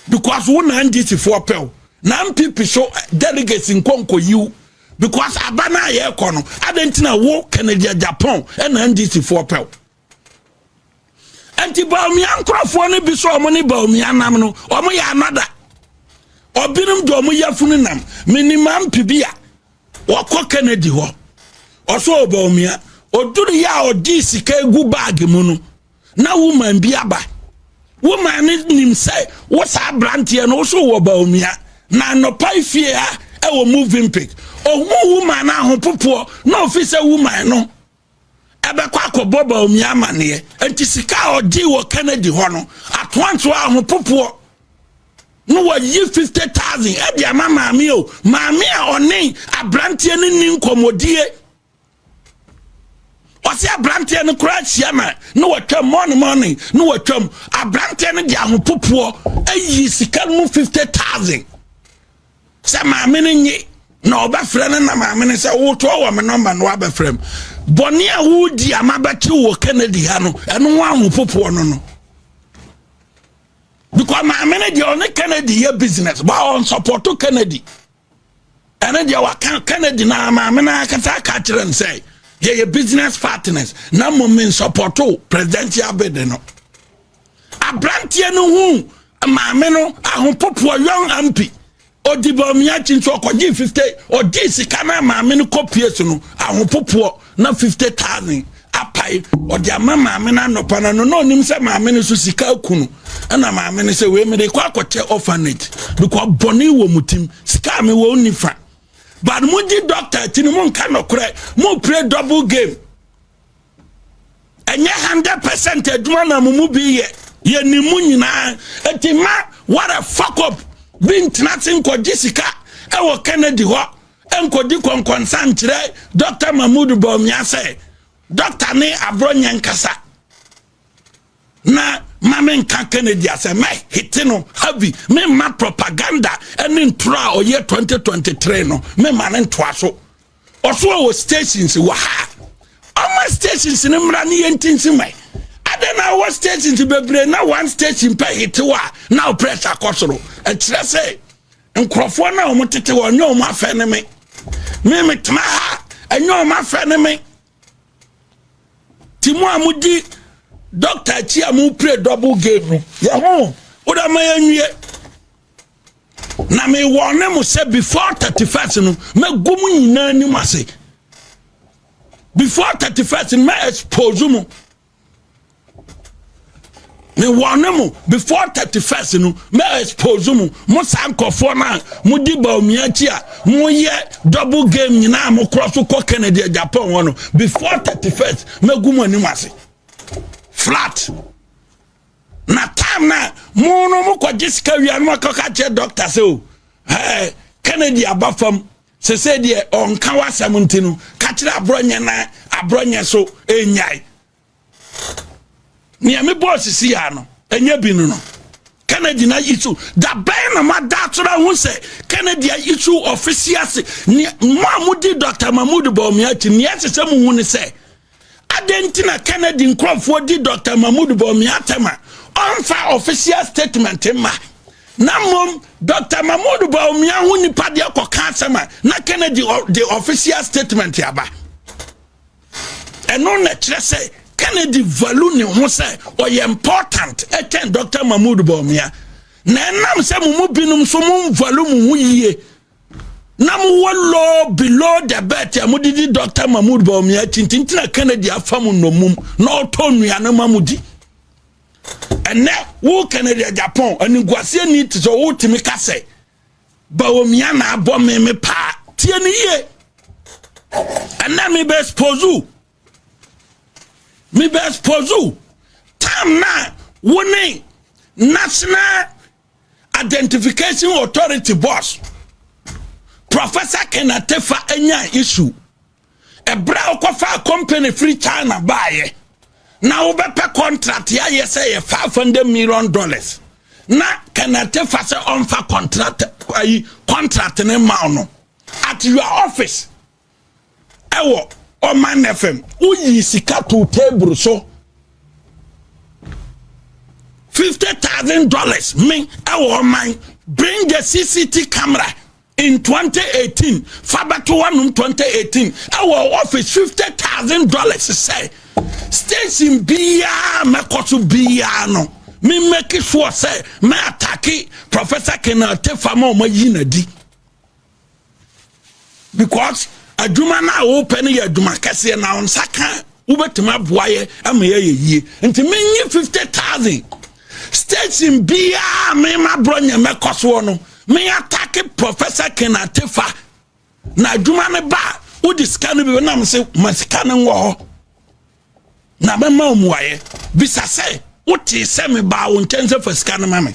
because wo na NDC foɔ pɛw na NPP so eh, delegates nkɔnkɔ yiw because aba na yɛ kɔ no adan tina wo Kennedy Japan ɛna NDC foɔ pɛw. nti baomia nkurɔfoɔ no bi sɛ wɔn ne baomia nam no wɔn yɛ anada ɔbinom de wɔn yɛ funu nam minima mpi bi a wɔkɔ kennedy hɔ ɔsɔ baomia oduru yɛ a ɔde sika egu baagi mu no na woman bi aba woman no nim sɛ wɔ saa aberanteɛ no wosɔ wɔ baomia na anɔpa efie ha ɛwɔ moving pic ohun woman no ahopopoɔ na ofi sɛ woman no. ɛbɛkɔ akɔbɔ Bawumia amanneɛ. Enti sika a ɔgyee wɔ Kennedy hɔ no, atoantoa ahopopoɔ na wɔyi 50000 ɛde ama maame o maame a ɔne aberanteɛ no ni nkɔmmɔdie ɔsɛ aberanteɛ no koraa hyia ma na wɔtwam mɔne mɔne na wɔtwam aberanteɛ no de ahopopoɔ ayi sika no mu 50000 Sɛ maame no nye na ɔbɛfrɛ no na maame no sɛ wotoa wɔ me nɔmba no wabɛfrɛ m bɔne a wodi a mabɛtew wɔ Kennedy ha no ɛno ho ahopopoɔ no no because maame no deɛ ɔne Kennedy yɛ business ba ɔnsɔpɔto Kennedy ɛne deɛ waka Kennedy na maame no akasa aka kyerɛ no sɛ yɛyɛ business partners na mmom mensɔpɔto presidential bid no Aberanteɛ no huu maame no ahopopoɔ young ampi ɔdi bɔmiakyi nso ɔkɔgye 50 ɔgye sika no maame no kɔpie so no ahopopoɔ na 50 thousand apae ɔde ama maame no anɔpa no no na ɔnim sɛ maame no so sika aku no ɛna maame no sɛ wei mede kɔ akɔkyɛ orphanage because bɔne wɔ mu tim sika a mewɔ nni fa but mogye dɔkta akyi no monka nɔkorɛ mopire double game ɛnyɛ hundred percent adwuma na mo mu bi yɛ yɛ ne mu nyinaa eti ma what a fuck up bi ntena se nkɔgye sika ɛwɔ kennedy hɔ nkɔdi kɔnkɔnsa nkyerɛ dr mahmood bawumia sɛ dɔkta ne aborɔ nyɛ nkasa na ma me nka kennedy asɛ mɛ hete no havi me ma propaganda ɛne ntoro a ɔyɛ 2023 no me ma ne ntoa so Ɔso a wɔ stations wɔ ha ɔma stations no mmra ne yɛntinsi ma adɛn na wɔ stations bebree na one station pɛ hete hɔ a na wo press akɔ soro ɛkyerɛ sɛ nkurɔfoɔ no a wɔn tete hɔ ɛnyɛ wɔn afɛ ne me me metena ha ɛnyɛ wɔn afɛ ne me ti mu a modi dɔkta akyi a mopire double game no yɛ ho wode ma yɛnwie na mewɔ ne mo sɛ before thirty first no mɛgu mu nyinaa anim ase before thirty first no mɛ expose mu mewɔ ne mo before thirty first no mɛ expose mu mo saa nkɔfoɔ no a mo di baomia akyi a mo yɛ double game nyinaa mo korɔ so kɔ Kennedy Japan hɔ no before thirty first mɛgu mu anim ase flat. Na time na mo no mo kɔ gye sika wia no mo akɔ ka kyerɛ doctor sɛ o ɛɛ Kennedy aba fam sese deɛ ɔnka wasɛm nti no ka kyerɛ aborɔnyɛ na aborɔnyɛ so enyae nea me bɔɔ sisi ya no enye bi no no Kennedy na isu dabɛn na mo adaasora ho sɛ Kennedy isu ɔfisi ase nea mo a mo di Dr. Mahmoud Bawumia akyi nea ɛsɛ sɛ mo hu ne sɛ. Adɛn nti na Kennedy nkurɔfoɔ di Dɔkta Mahmoud Bawumia atɛm a ɔmfa official statement mma na mmom Dɔkta Mahmoud Bawumia ho nipa deɛ kɔka asɛm a na Kennedy de official statement aba? Ɛno na kyerɛ sɛ Kennedy value ne ho sɛ ɔyɛ important ɛkyɛn Dɔkta Mahmoud Bawumia na ɛnam sɛ mo mu binom nso mo value mo ho yie na mowɔ low below the belt a mode di dɔkta mahmood baomia akyi ntintina kennedy afa mu nnɔmum na ɔtɔ nnuane ma mo di ɛnɛ wo kennedy japan aniguaseɛ ni te sɛ wotumi ka sɛ baomia na abɔ me me paa tie ne yie ɛnɛ mebɛ expose wo mebɛ expose wo tam na wo ne national Identification Authority boss Professor Kenneth Tefa nyaa issue ɛberɛ a wokɔfaa company firi China baeɛ na wobɛpɛ contract yɛayɛ sɛ yɛ 500 million dollars na Kenneth Tefa sɛ ɔmfa contract ayi contract ne ma no at your office ɛwɔ ɔman na fam woyii sika too table so fifty thousand dollars me ɛwɔ ɔman bring the cct camera in 2018 fa bɛto hɔnom 2018 ɛwɔ office fifty thousand dollars sɛ station biara mɛkɔ so biara no me make sure sɛ mɛ atake professor kenal tefa ma ɔma yi na di because adwuma no a wopɛ no yɛ adwuma kɛseɛ na nsa ka wobɛtumi aboa yɛ ama yɛyɛ yie nti menye 50000 station biaa mema borɔ nyɛ mɛkɔ soɔ no meatake professor kenatefa na adwuma no ba a wode sika no bi nam sɛ ma sika no nwɔ hɔ na mɛma omuayɛ bisa sɛ wotee sɛ mebaa wo nkyɛn sɛ fa sika no ma me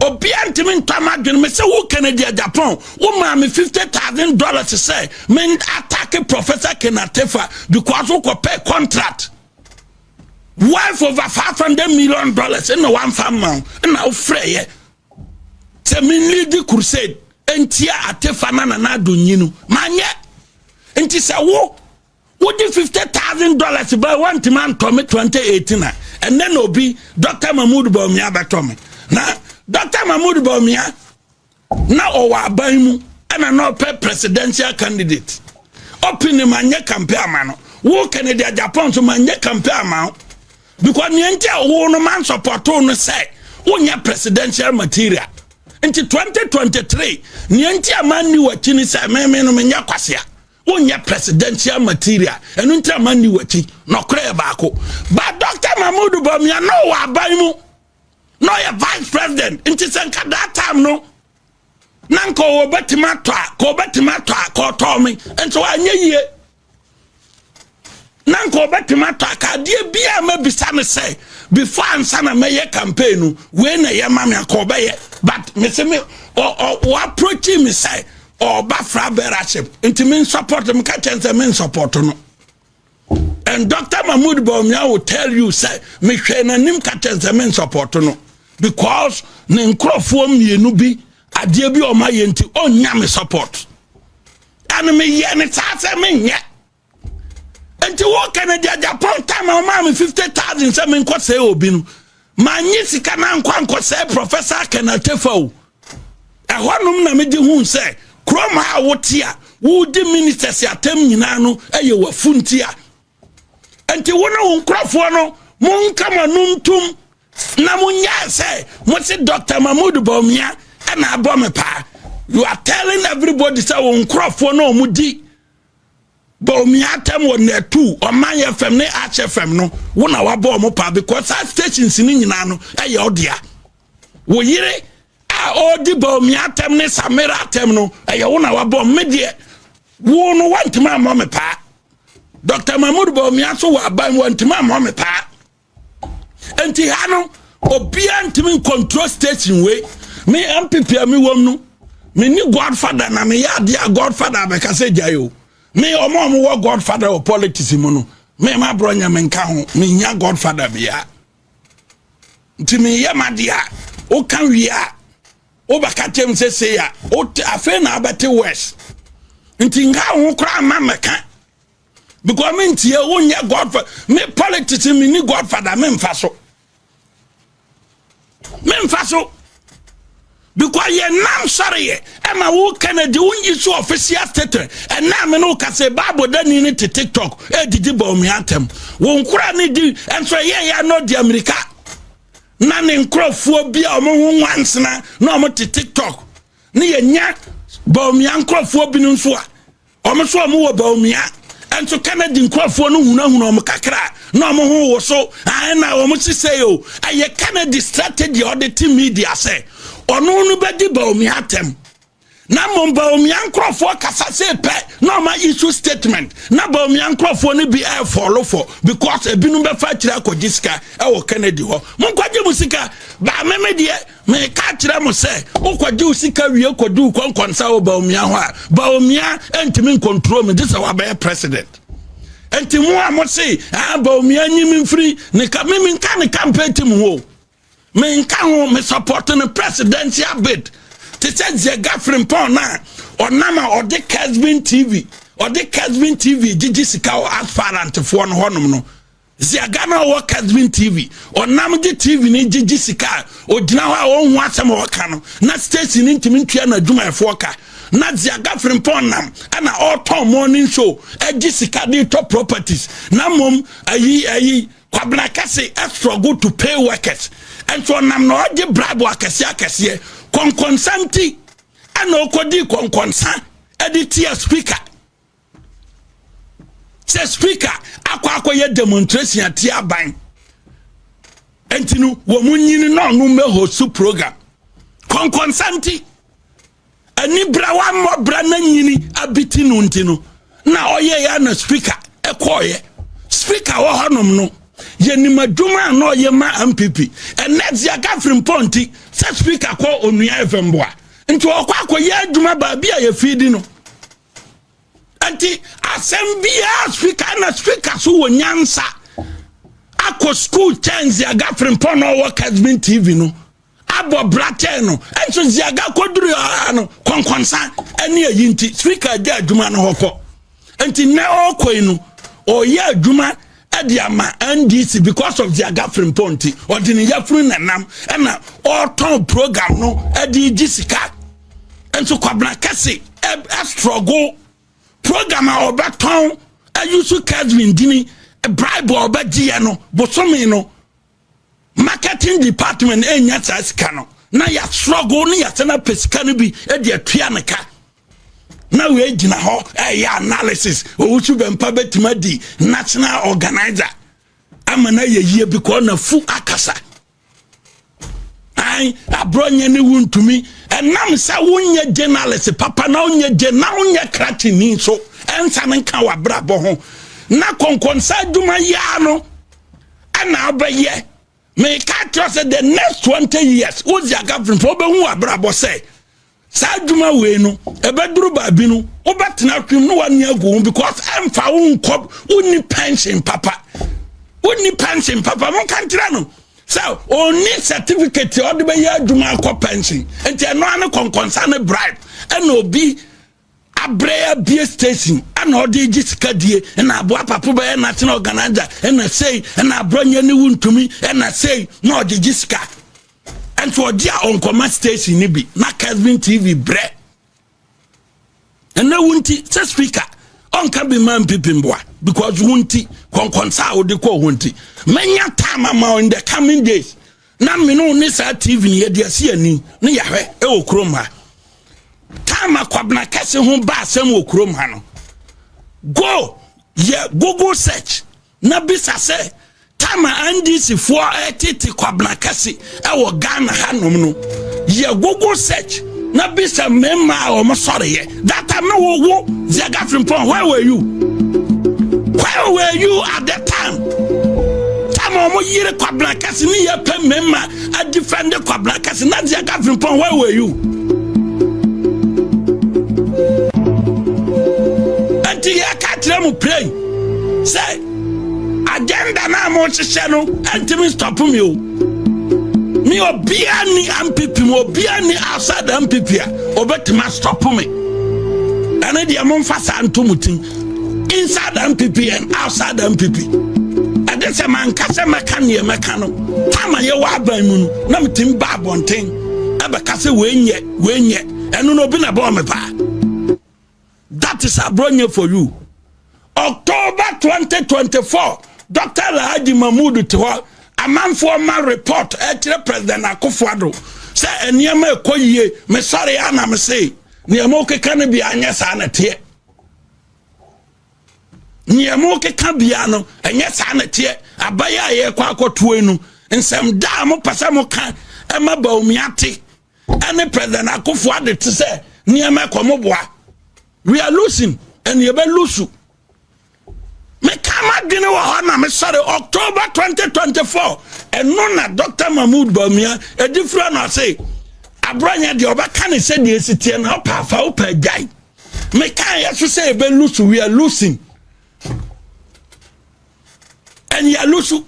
obiara ntumi ntɔ ama adwene me sɛ wo kennedy japan wo maa me fifty thousand dollars sɛ men atake professor kenatefa because wokɔ pɛ contract wife over five hundred million dollars ɛna wamfa mma wo ɛna wofrɛ yɛ sɛ men lead crusade ntia atefa na nana adonyi no manyɛ nti sɛ wo wode fifty thousand dollars ba wantumi antɔ me twenty eighteen a ɛnɛ na obi dɔkta mahmood bawumia bɛtɔ me na dɔkta mahmood bawumia na ɔwɔ aban mu ɛna na ɔpɛ presidential candidate ɔpini ma nyɛ kampe ama no wo kennedy japan so ma nyɛ kampe ama wo because nea nti a wo no man sɔpɔtoo no sɛ wonyɛ presidential material nti 2023 nea nti a man ni wakyi ni sɛ meme no menyɛ kwasea Wonyɛ presidential material ɛno nti a manni w'akyi. Nɔkorɛ yɛ baako. But Dr. Mahmoud Bawumia na ɔwɔ aban mu na ɔyɛ vice president nti sɛ nka that time no na nka ɔwɔ bɛtumi atɔ a ka ɔbɛtumi atɔ a ka ɔtɔɔ me nti wanyɛ yie. na nka ɔbɛtumi atɔ aka adeɛ bi a mabisa no sɛ before ansa na mɛyɛ campaign no wei na ɛyɛ ma me anka ɔbɛyɛ but me se me wɔaprochi me sɛ ɔba fra bɛraship nti me nsupɔt no meka kyɛn sɛ me nsupɔt no and dr mahmood baumia will tell you sɛ mehwɛ n'anim ka kyɛn sɛ me nsupɔt no because ne nkurɔfoɔ mmienu bi adeɛ bi ɔma yɛ nti ɔnnya me support ɛne meyɛ ne saa sɛ menyɛ nti wo kɛnɛdeɛ japan time a ɔmaa me 50000 sɛ menkɔ sɛe obi no manye sika no ankɔ ankɔ sɛe professor kɛnɛtefa o ɛhɔnom na megye hu sɛ kurom a wote a wodi ministers atam nyinaa no ɛyɛ wafu nti a nti wo ne wo nkurɔfoɔ no monka mo ano ntom na monyɛ sɛ mo se dr mahmood bawumia ɛna abɔ me paa you are telling everybody sɛ wo nkurɔfoɔ no ɔmo di bɔ omi atɛm wɔ nɛtu ɔman yɛ fam ne akyɛ fam no wo na wabɔ ɔmo paa because saa stations ne nyinaa no ɛyɛ ɔdea wo yere a ɔredi bɔ omi atɛm ne samira atɛm no ɛyɛ wo na wabɔ ɔmo deɛ wo no wantumi ammɔ me paa dr mahmud bɔ omi aso wɔ aban wantumi ammɔ me paa nti ha no obiara ntumi nkontrol station wei me mpp a mewɔ mu no menni godfather na meyɛ adeɛ a godfather abɛka sɛ gyae o me ɔma ɔmo wɔ godfather wɔ politics mu no me ma borɔ nyɛ menka ho menya godfather biara nti meyɛ madeɛ a woka wie a wobɛka kyɛm sɛ sei a afei na abɛte west nti nka ho koraa ma mmɛka because me ntie wo nyɛ godfather me politics me ni godfather me nfa so me nfa so because yɛ nam sɔre yɛ ɛma wo kennedy wo nyi so official statement ɛnna me no ka sɛ bible dani ne te tiktok ɛdidi bɔ omi atɛm wo nkora ne di ɛnso ɛyɛ yɛ no di amerika na ne nkurɔfoɔ bi a wɔn ho nwansena na wɔn te tiktok ne yɛ nya bɔ omi ankurɔfoɔ bi no nso a Wɔn nso wɔn wɔ Bawumia. Nso Kennedy nkurɔfoɔ no hunahuna wɔn kakra na wɔn ho wo so na wɔn si sɛ o ɛyɛ Kennedy strategy a ɔde te media sɛ ɔno no bɛdi Bawumia atɛm na mmom Bawumia nkurɔfoɔ kasa se pɛ na wɔn issue statement na Bawumia nkurɔfoɔ no bi ɛɛfɔlofɔ because ebinom bɛfa akyire akɔgye sika ɛwɔ Kennedy hɔ mo nkɔgye mo sika baameme deɛ Meka akyerɛ mo sɛ, wokɔgye wo sika wie kɔdi wo kɔnkɔnsa wɔ Bawumia hɔ a, Bawumia ntumi nkontrol me gye sɛ wabɛyɛ president. Nti mo a mo se, ah, Bawumia nyi me mfiri ne ka, me menka ne campaign team ho. Menka ho, me support ne presidential bid. Te sɛ Zia Gafrimpɔn no a, ɔnam a ɔde Kesbin TV, ɔde Kesbin TV gyegye sika wɔ asfarantefoɔ no hɔnom no. Zia Ghana ɔwɔ Kasbin TV. Ɔnam gye TV no gye gye sika a ɔgyina hɔ a ɔnho asɛm a ɔka no na station no ntumi ntua n'adwumayɛfoɔ ka. Na Zia Gafrimpɔn nam ɛna ɔretɔn morning show gye sika de tɔ properties na mmom ayi ayi Kwabena Kɛse struggle to pay workers nso ɔnam na ɔgye bribe akɛseɛ akɛseɛ kɔnkɔnsa nti ɛna ɔkɔdi kɔnkɔnsa de tia speaker sɛ speaker akɔ akɔyɛ demonstration ati aban nti no wɔn nyini na ɔno mmɛ hosu program kɔnkɔnsa nti anibrawa mmɔbra na nyini abiti no nti no na ɔyɛ yɛ na speaker ɛkɔɔyɛ speaker wɔ hɔnom no yɛnim adwuma a na ɔyɛ ma mpp ɛnɛ dzia gafiri mpɔ nti sɛ speaker kɔ onua ɛfɛ mboa nti ɔkɔ akɔyɛ adwuma baabi a yɛfii di no nti asɛm biara speaker na speaker so wɔ nyansa akɔ school kyɛn ziaga frimpɔn na ɔwɔ kasmin tv no abɔ bra kyɛn no nso ziaga kɔduru ara no kɔnkɔnsa ɛne ayi nti speaker agya adwuma no hɔ kɔ nti nnɛ ɔkɔ yi no ɔyɛ adwuma ɛde ama ndc because of their girlfriend pɔ nti ɔde ne yafunu na nam ɛna ɔretɔn program no ɛde gye sika nso kwabena kɛse ɛstrɔgo program a ɔbɛtɔn ɛyusu kevin dini bribe a ɔbɛgyeɛ no bosome no marketing department ɛnya saa sika no na yɛ struggle ne yɛsɛ no apɛ sika no bi de atua ne ka na wei gyina hɔ ɛyɛ analysis owusu bɛmpa bɛtumi adi national organizer ama no ayɛ yie bi kɔɔ na fu akasa an aborɔ nyɛ ne wo ntumi ɛnam sɛ wonyɛ journalist papa na wonyɛ gye na wonyɛ kratini nso ɛnsa no nka wabrabɔ ho na kɔnkɔnsa adwuma yia no ɛna abɛyɛ meka kyerɛ sɛ the next 20 years wosi akafiri fo wobɛhu abrabɔ sɛ saa adwuma wei no ɛbɛduru baabi no wobɛtena hwem no wani agu ho because ɛmfa wo nkɔ wonni pension papa wonni pension papa monka nkyerɛ no sɛ ɔnni certificate a ɔde bɛyɛ adwuma akɔ pension nti ɛno ane kɔnkɔnsa ne bribe ɛna obi Abrɛ a bie station ɛna ɔde gye sika die ɛna aboa apapo bɛyɛ national organizer ɛna sei ɛna abrɔ nyɛ ne wuntumi ɛna sei na ɔde gye sika ɛnso ɔde a ɔnkɔma station ne bi na Kesbin TV brɛ ɛna wunti sɛ speaker ɔnka bi ma mpipi mboa because wunti kɔnkɔnsa a ɔde kɔ ɔhɔ nti mɛnya time ama in the coming days na me no ne saa tv no yɛde asi ani ne yɛhwɛ wɔ kurom ha time akwabena kɛse ho ba asɛm wɔ kurom ha no go yɛ google search na bisa sɛ time a ndc foɔ ɛtete kwabena kɛse ɛwɔ ghana hanom no yɛ google search na bisa mmarima a wɔn sɔreyɛ That time no wo wo Viaga Frimpong where were you? Where were you at that time? Time omo yire kwabena kɛse ne yɛ pɛ mmarima a defend kwabena kɛse na Viaga Frimpong where were you? Ɛnti yɛ ka kyerɛ mu plain sɛ agenda no a mohyehyɛ no ɛntumi stop me o me obiara ni ampipi mu obiara ni outside the ampipi a obɛtumi astop me ɛne deɛ momfa saa nto mo tim inside the ampipi and outside the ampipi ɛde sɛ manka sɛ mɛka neɛ mɛka no tam a yɛwɔ aban mu no na metumi ba abɔnten ɛbɛka sɛ wɔnyɛ wɔnyɛ ɛno no obi na bɔɔ me paa That is Abronye for you. October 2024, Dr. Alhaji Mahmoud te hɔ amanfoɔ ma report ɛkyerɛ President Akufo-Addo sɛ nneɛma ɛkɔ yie mesɔre a na mese nneɛma wokeka no bia nyɛ saa na teɛ nneɛma wokeka bia no ɛnyɛ saa na teɛ abayɛ a yɛkɔ akɔtoe no nsɛm da a mopɛ sɛ moka ɛma Bawumia te ɛne president akofo ade te sɛ nneɛma ɛkɔ mo boa we are losing ɛne yɛbɛ lusu meka m'adwene wɔ hɔ na mesɔre october 2024 ɛno na dr mahmood bamia ɛdi fura no ase aborɔnyɛ deɛ ɔbɛka ne sɛ deɛ ɛsi teɛ na ɔpa afa wopɛ agyae meka yɛ so sɛ yɛbɛ lusu we are losing ɛne yɛ lusu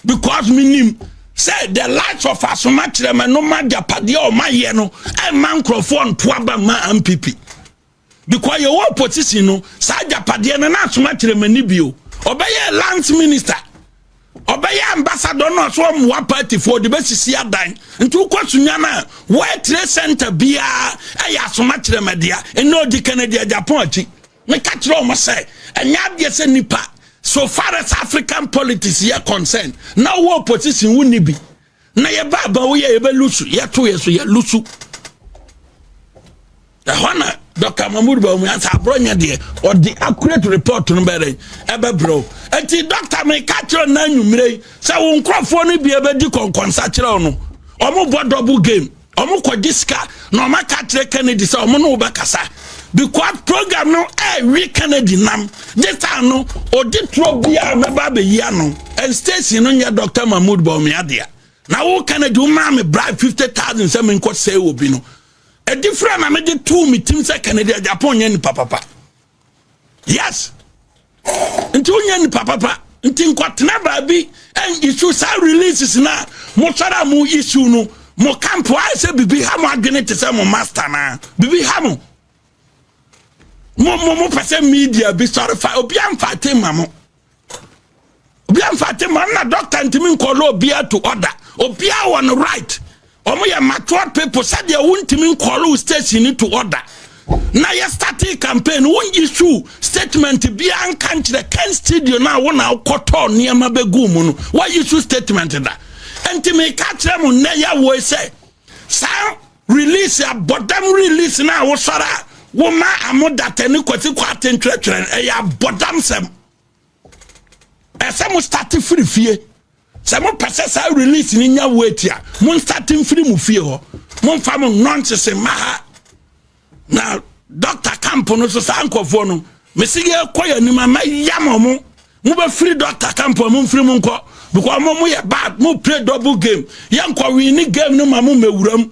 because menim sɛ the light of asoma kyerɛma no ma agyapadeɛ a ɔmayɛ no ɛma nkurɔfoɔ nto aba ma mpp because yɛwɔ opposition no saa agyapadeɛ no na asoma kyerɛma ni bio ɔbɛyɛ lands minister ɔbɛyɛ ambassador no ɔso ɔmoa partyfoɔ de bɛsisi adan nti wokɔ sunya no a wɔatire center biara ɛyɛ asoma kyerɛma dea ɛnɛ ɔdi kanadi agyapɔn akyi Meka kyerɛɛ wɔn sɛ ɛnyɛ adeɛ sɛ nipa so far as African politics yɛ concern na ɔwɔ opposition wo ni bi na yɛ ba aba wo yɛ yɛ bɛ lusu yɛ to yɛ so yɛ lusu ɛhɔ na Dr. Mahmoud Bawumia ansa aborɔ nyɛ deɛ ɔde accurate report no bɛrɛ ɛbɛbrɛ o eti dɔkta mi ka kyerɛ na anwumire yi sɛ wo nkurɔfoɔ no bi ɛbɛdi kɔnkɔnsa kyerɛ no wɔn bɔ double game. Ɔmo kɔ gye sika na ɔmo aka akyerɛ Kennedy sɛ ɔmo ne wo bɛkasa because program no ɛɛwe Kennedy nam gye taa no ɔde turo biara mɛba abɛyi ano and station no nyɛ Dr. Mahmoud Bawumia dea na wo Kennedy wo maa me bribe fifty thousand sɛ menkɔ sɛe obi no ɛdi fira na mede too me tim sɛ Kennedy Agyapong nyɛ nipa papa yes nti wonyɛ nipa papa nti nkɔtena baabi isu saa releases na mosɔre a mo isu no mo kampo ayɛ sɛ biribi ha mo adwene te sɛ mo master naa biribi ha mo mo mo mo pɛ sɛ media bi sɔre fa obi amfa te ma mo obi amfa te ma na doctor ntumi nkɔlɔ obiara to order obiara wɔ no right wɔn yɛ matured people sɛdeɛ wontumi nkɔlɔ station ni to order na yɛ starting campaign wɔn issue statement biara nka nkyerɛ ken studio na wɔn na akɔtɔ nneɛma bɛgu mu no wɔn issue statement da ntumi ka kyerɛ mu nnɛ yɛ wɔ sɛ saa. Release abɔdam release na wosɔre a woma amo data ne kwasi kɔ ate ntwerɛtwerɛ no ɛyɛ abɔdam sɛm ɛsɛ mo start firi fie sɛ mo pɛ sɛ saa release no nya weight a mo start mfiri mo fie hɔ mo nfa mo nɔnsese mma ha na doctor camp no so saa nkɔfoɔ no mesi yɛ kɔ yɛ anim ama ya mo mo Mo bɛ firi doctor camp a mo nfiri mu nkɔ because ɔmo mo yɛ bad mo play double game yɛ nkɔ win ne game no ma mo mɛ wura mu.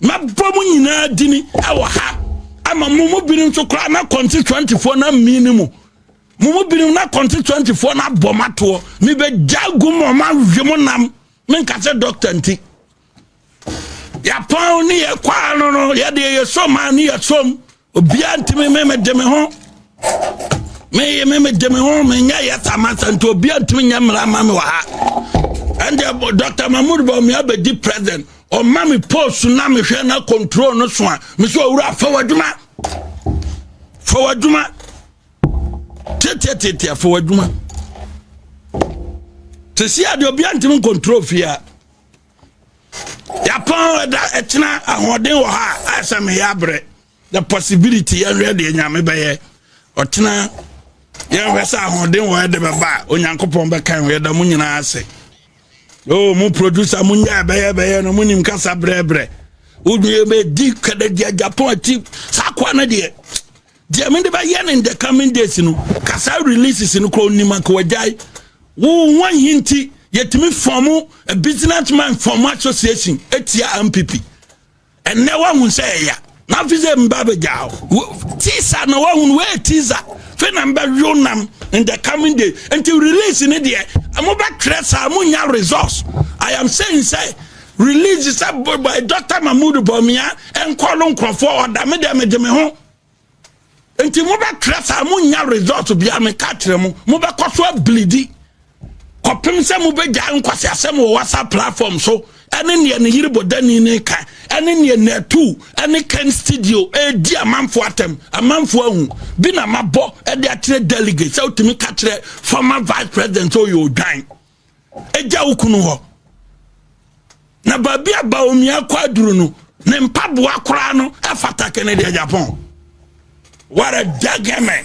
Mɛ bɔ mo nyinaa dini ɛwɔ ha ama mo mo binom nso koraa na kɔnti twenty foɔ na mi ne mo mo mo binom na kɔnti twenty foɔ na bɔ mo atoɔ mi bɛ gya gu mo ɔmo awi mo nam mi nkasa doctor nti. yɛapɔn ne yɛkwaa no no yɛdeɛ yɛsom a ne yɛsom obiaa ntimi me mede me ho meye me mede me ho menyɛ yɛ samasa nti obiaa ntimi nyɛ mmara ma me wɔ ha ɛndeɛ dr mahmud bɔmi abɛdi president ɔma me post na mehwɛ na control no so a me sɛ ɔwura fa w'adwuma fa w'adwuma tetiatetia fa w'adwuma te si adeɛ obiaa ntimi nkontrol fie a Yɛapɔn ɛda ɛkyena ahoɔden wɔ ha a ayɛ sɛ meyɛ abrɛ. The possibility yɛhwɛ deɛ nyame bɛyɛ. Ɔkyena yɛhwɛ sɛ ahoɔden wɔ ɛde bɛba a Onyankopɔn bɛkan wɔ yɛda mu nyinaa ase. O oh, mu producer mu nyɛ ɛbɛyɛ bɛyɛ no mu nim kasa brɛbrɛ. Wodwie bɛdi kɛdɛgya Japan akyi saa koa no deɛ. Deɛ mede bɛyɛ no in the coming days no ka saa releases no koraa onim anka wagyae wo ho ahi nti yɛtumi fɔm a business man fɔm association ɛtia mpp ɛnnɛ woahu sɛ ɛya na afi sɛ mba bɛgyaa wo tisa na woahu no woyɛ tisa fei na mbɛwew nam in the coming day nti release no deɛ mobɛtwerɛ saa monya resource i am saying sɛ release sɛ dr mahmood bɔmia ɛnkɔ no nkurɔfoɔ ɔda me deɛ megye me ho nti mobɛtrɛ saa monya result biara meka kyerɛ mo mobɛkɔ so abilidi kɔpem sɛ mobɛgyae nkwase asɛm wɔ whatsapp platform so ɛne neɛ ne yere bɔdani ne ka ɛne neɛ natu ɛne ken studio ɛredi amanfoɔ atɛm amanfoɔ ahu bi na mabɔ ɛde akyerɛ delegate sɛ wotumi ka kyerɛ former vice president sɛ ɔyɛ odwan gya wo kunu hɔ na baabi a baomi akɔ aduru no ne mpaboa koraa no ɛfata kɛne deɛ japan what a jagame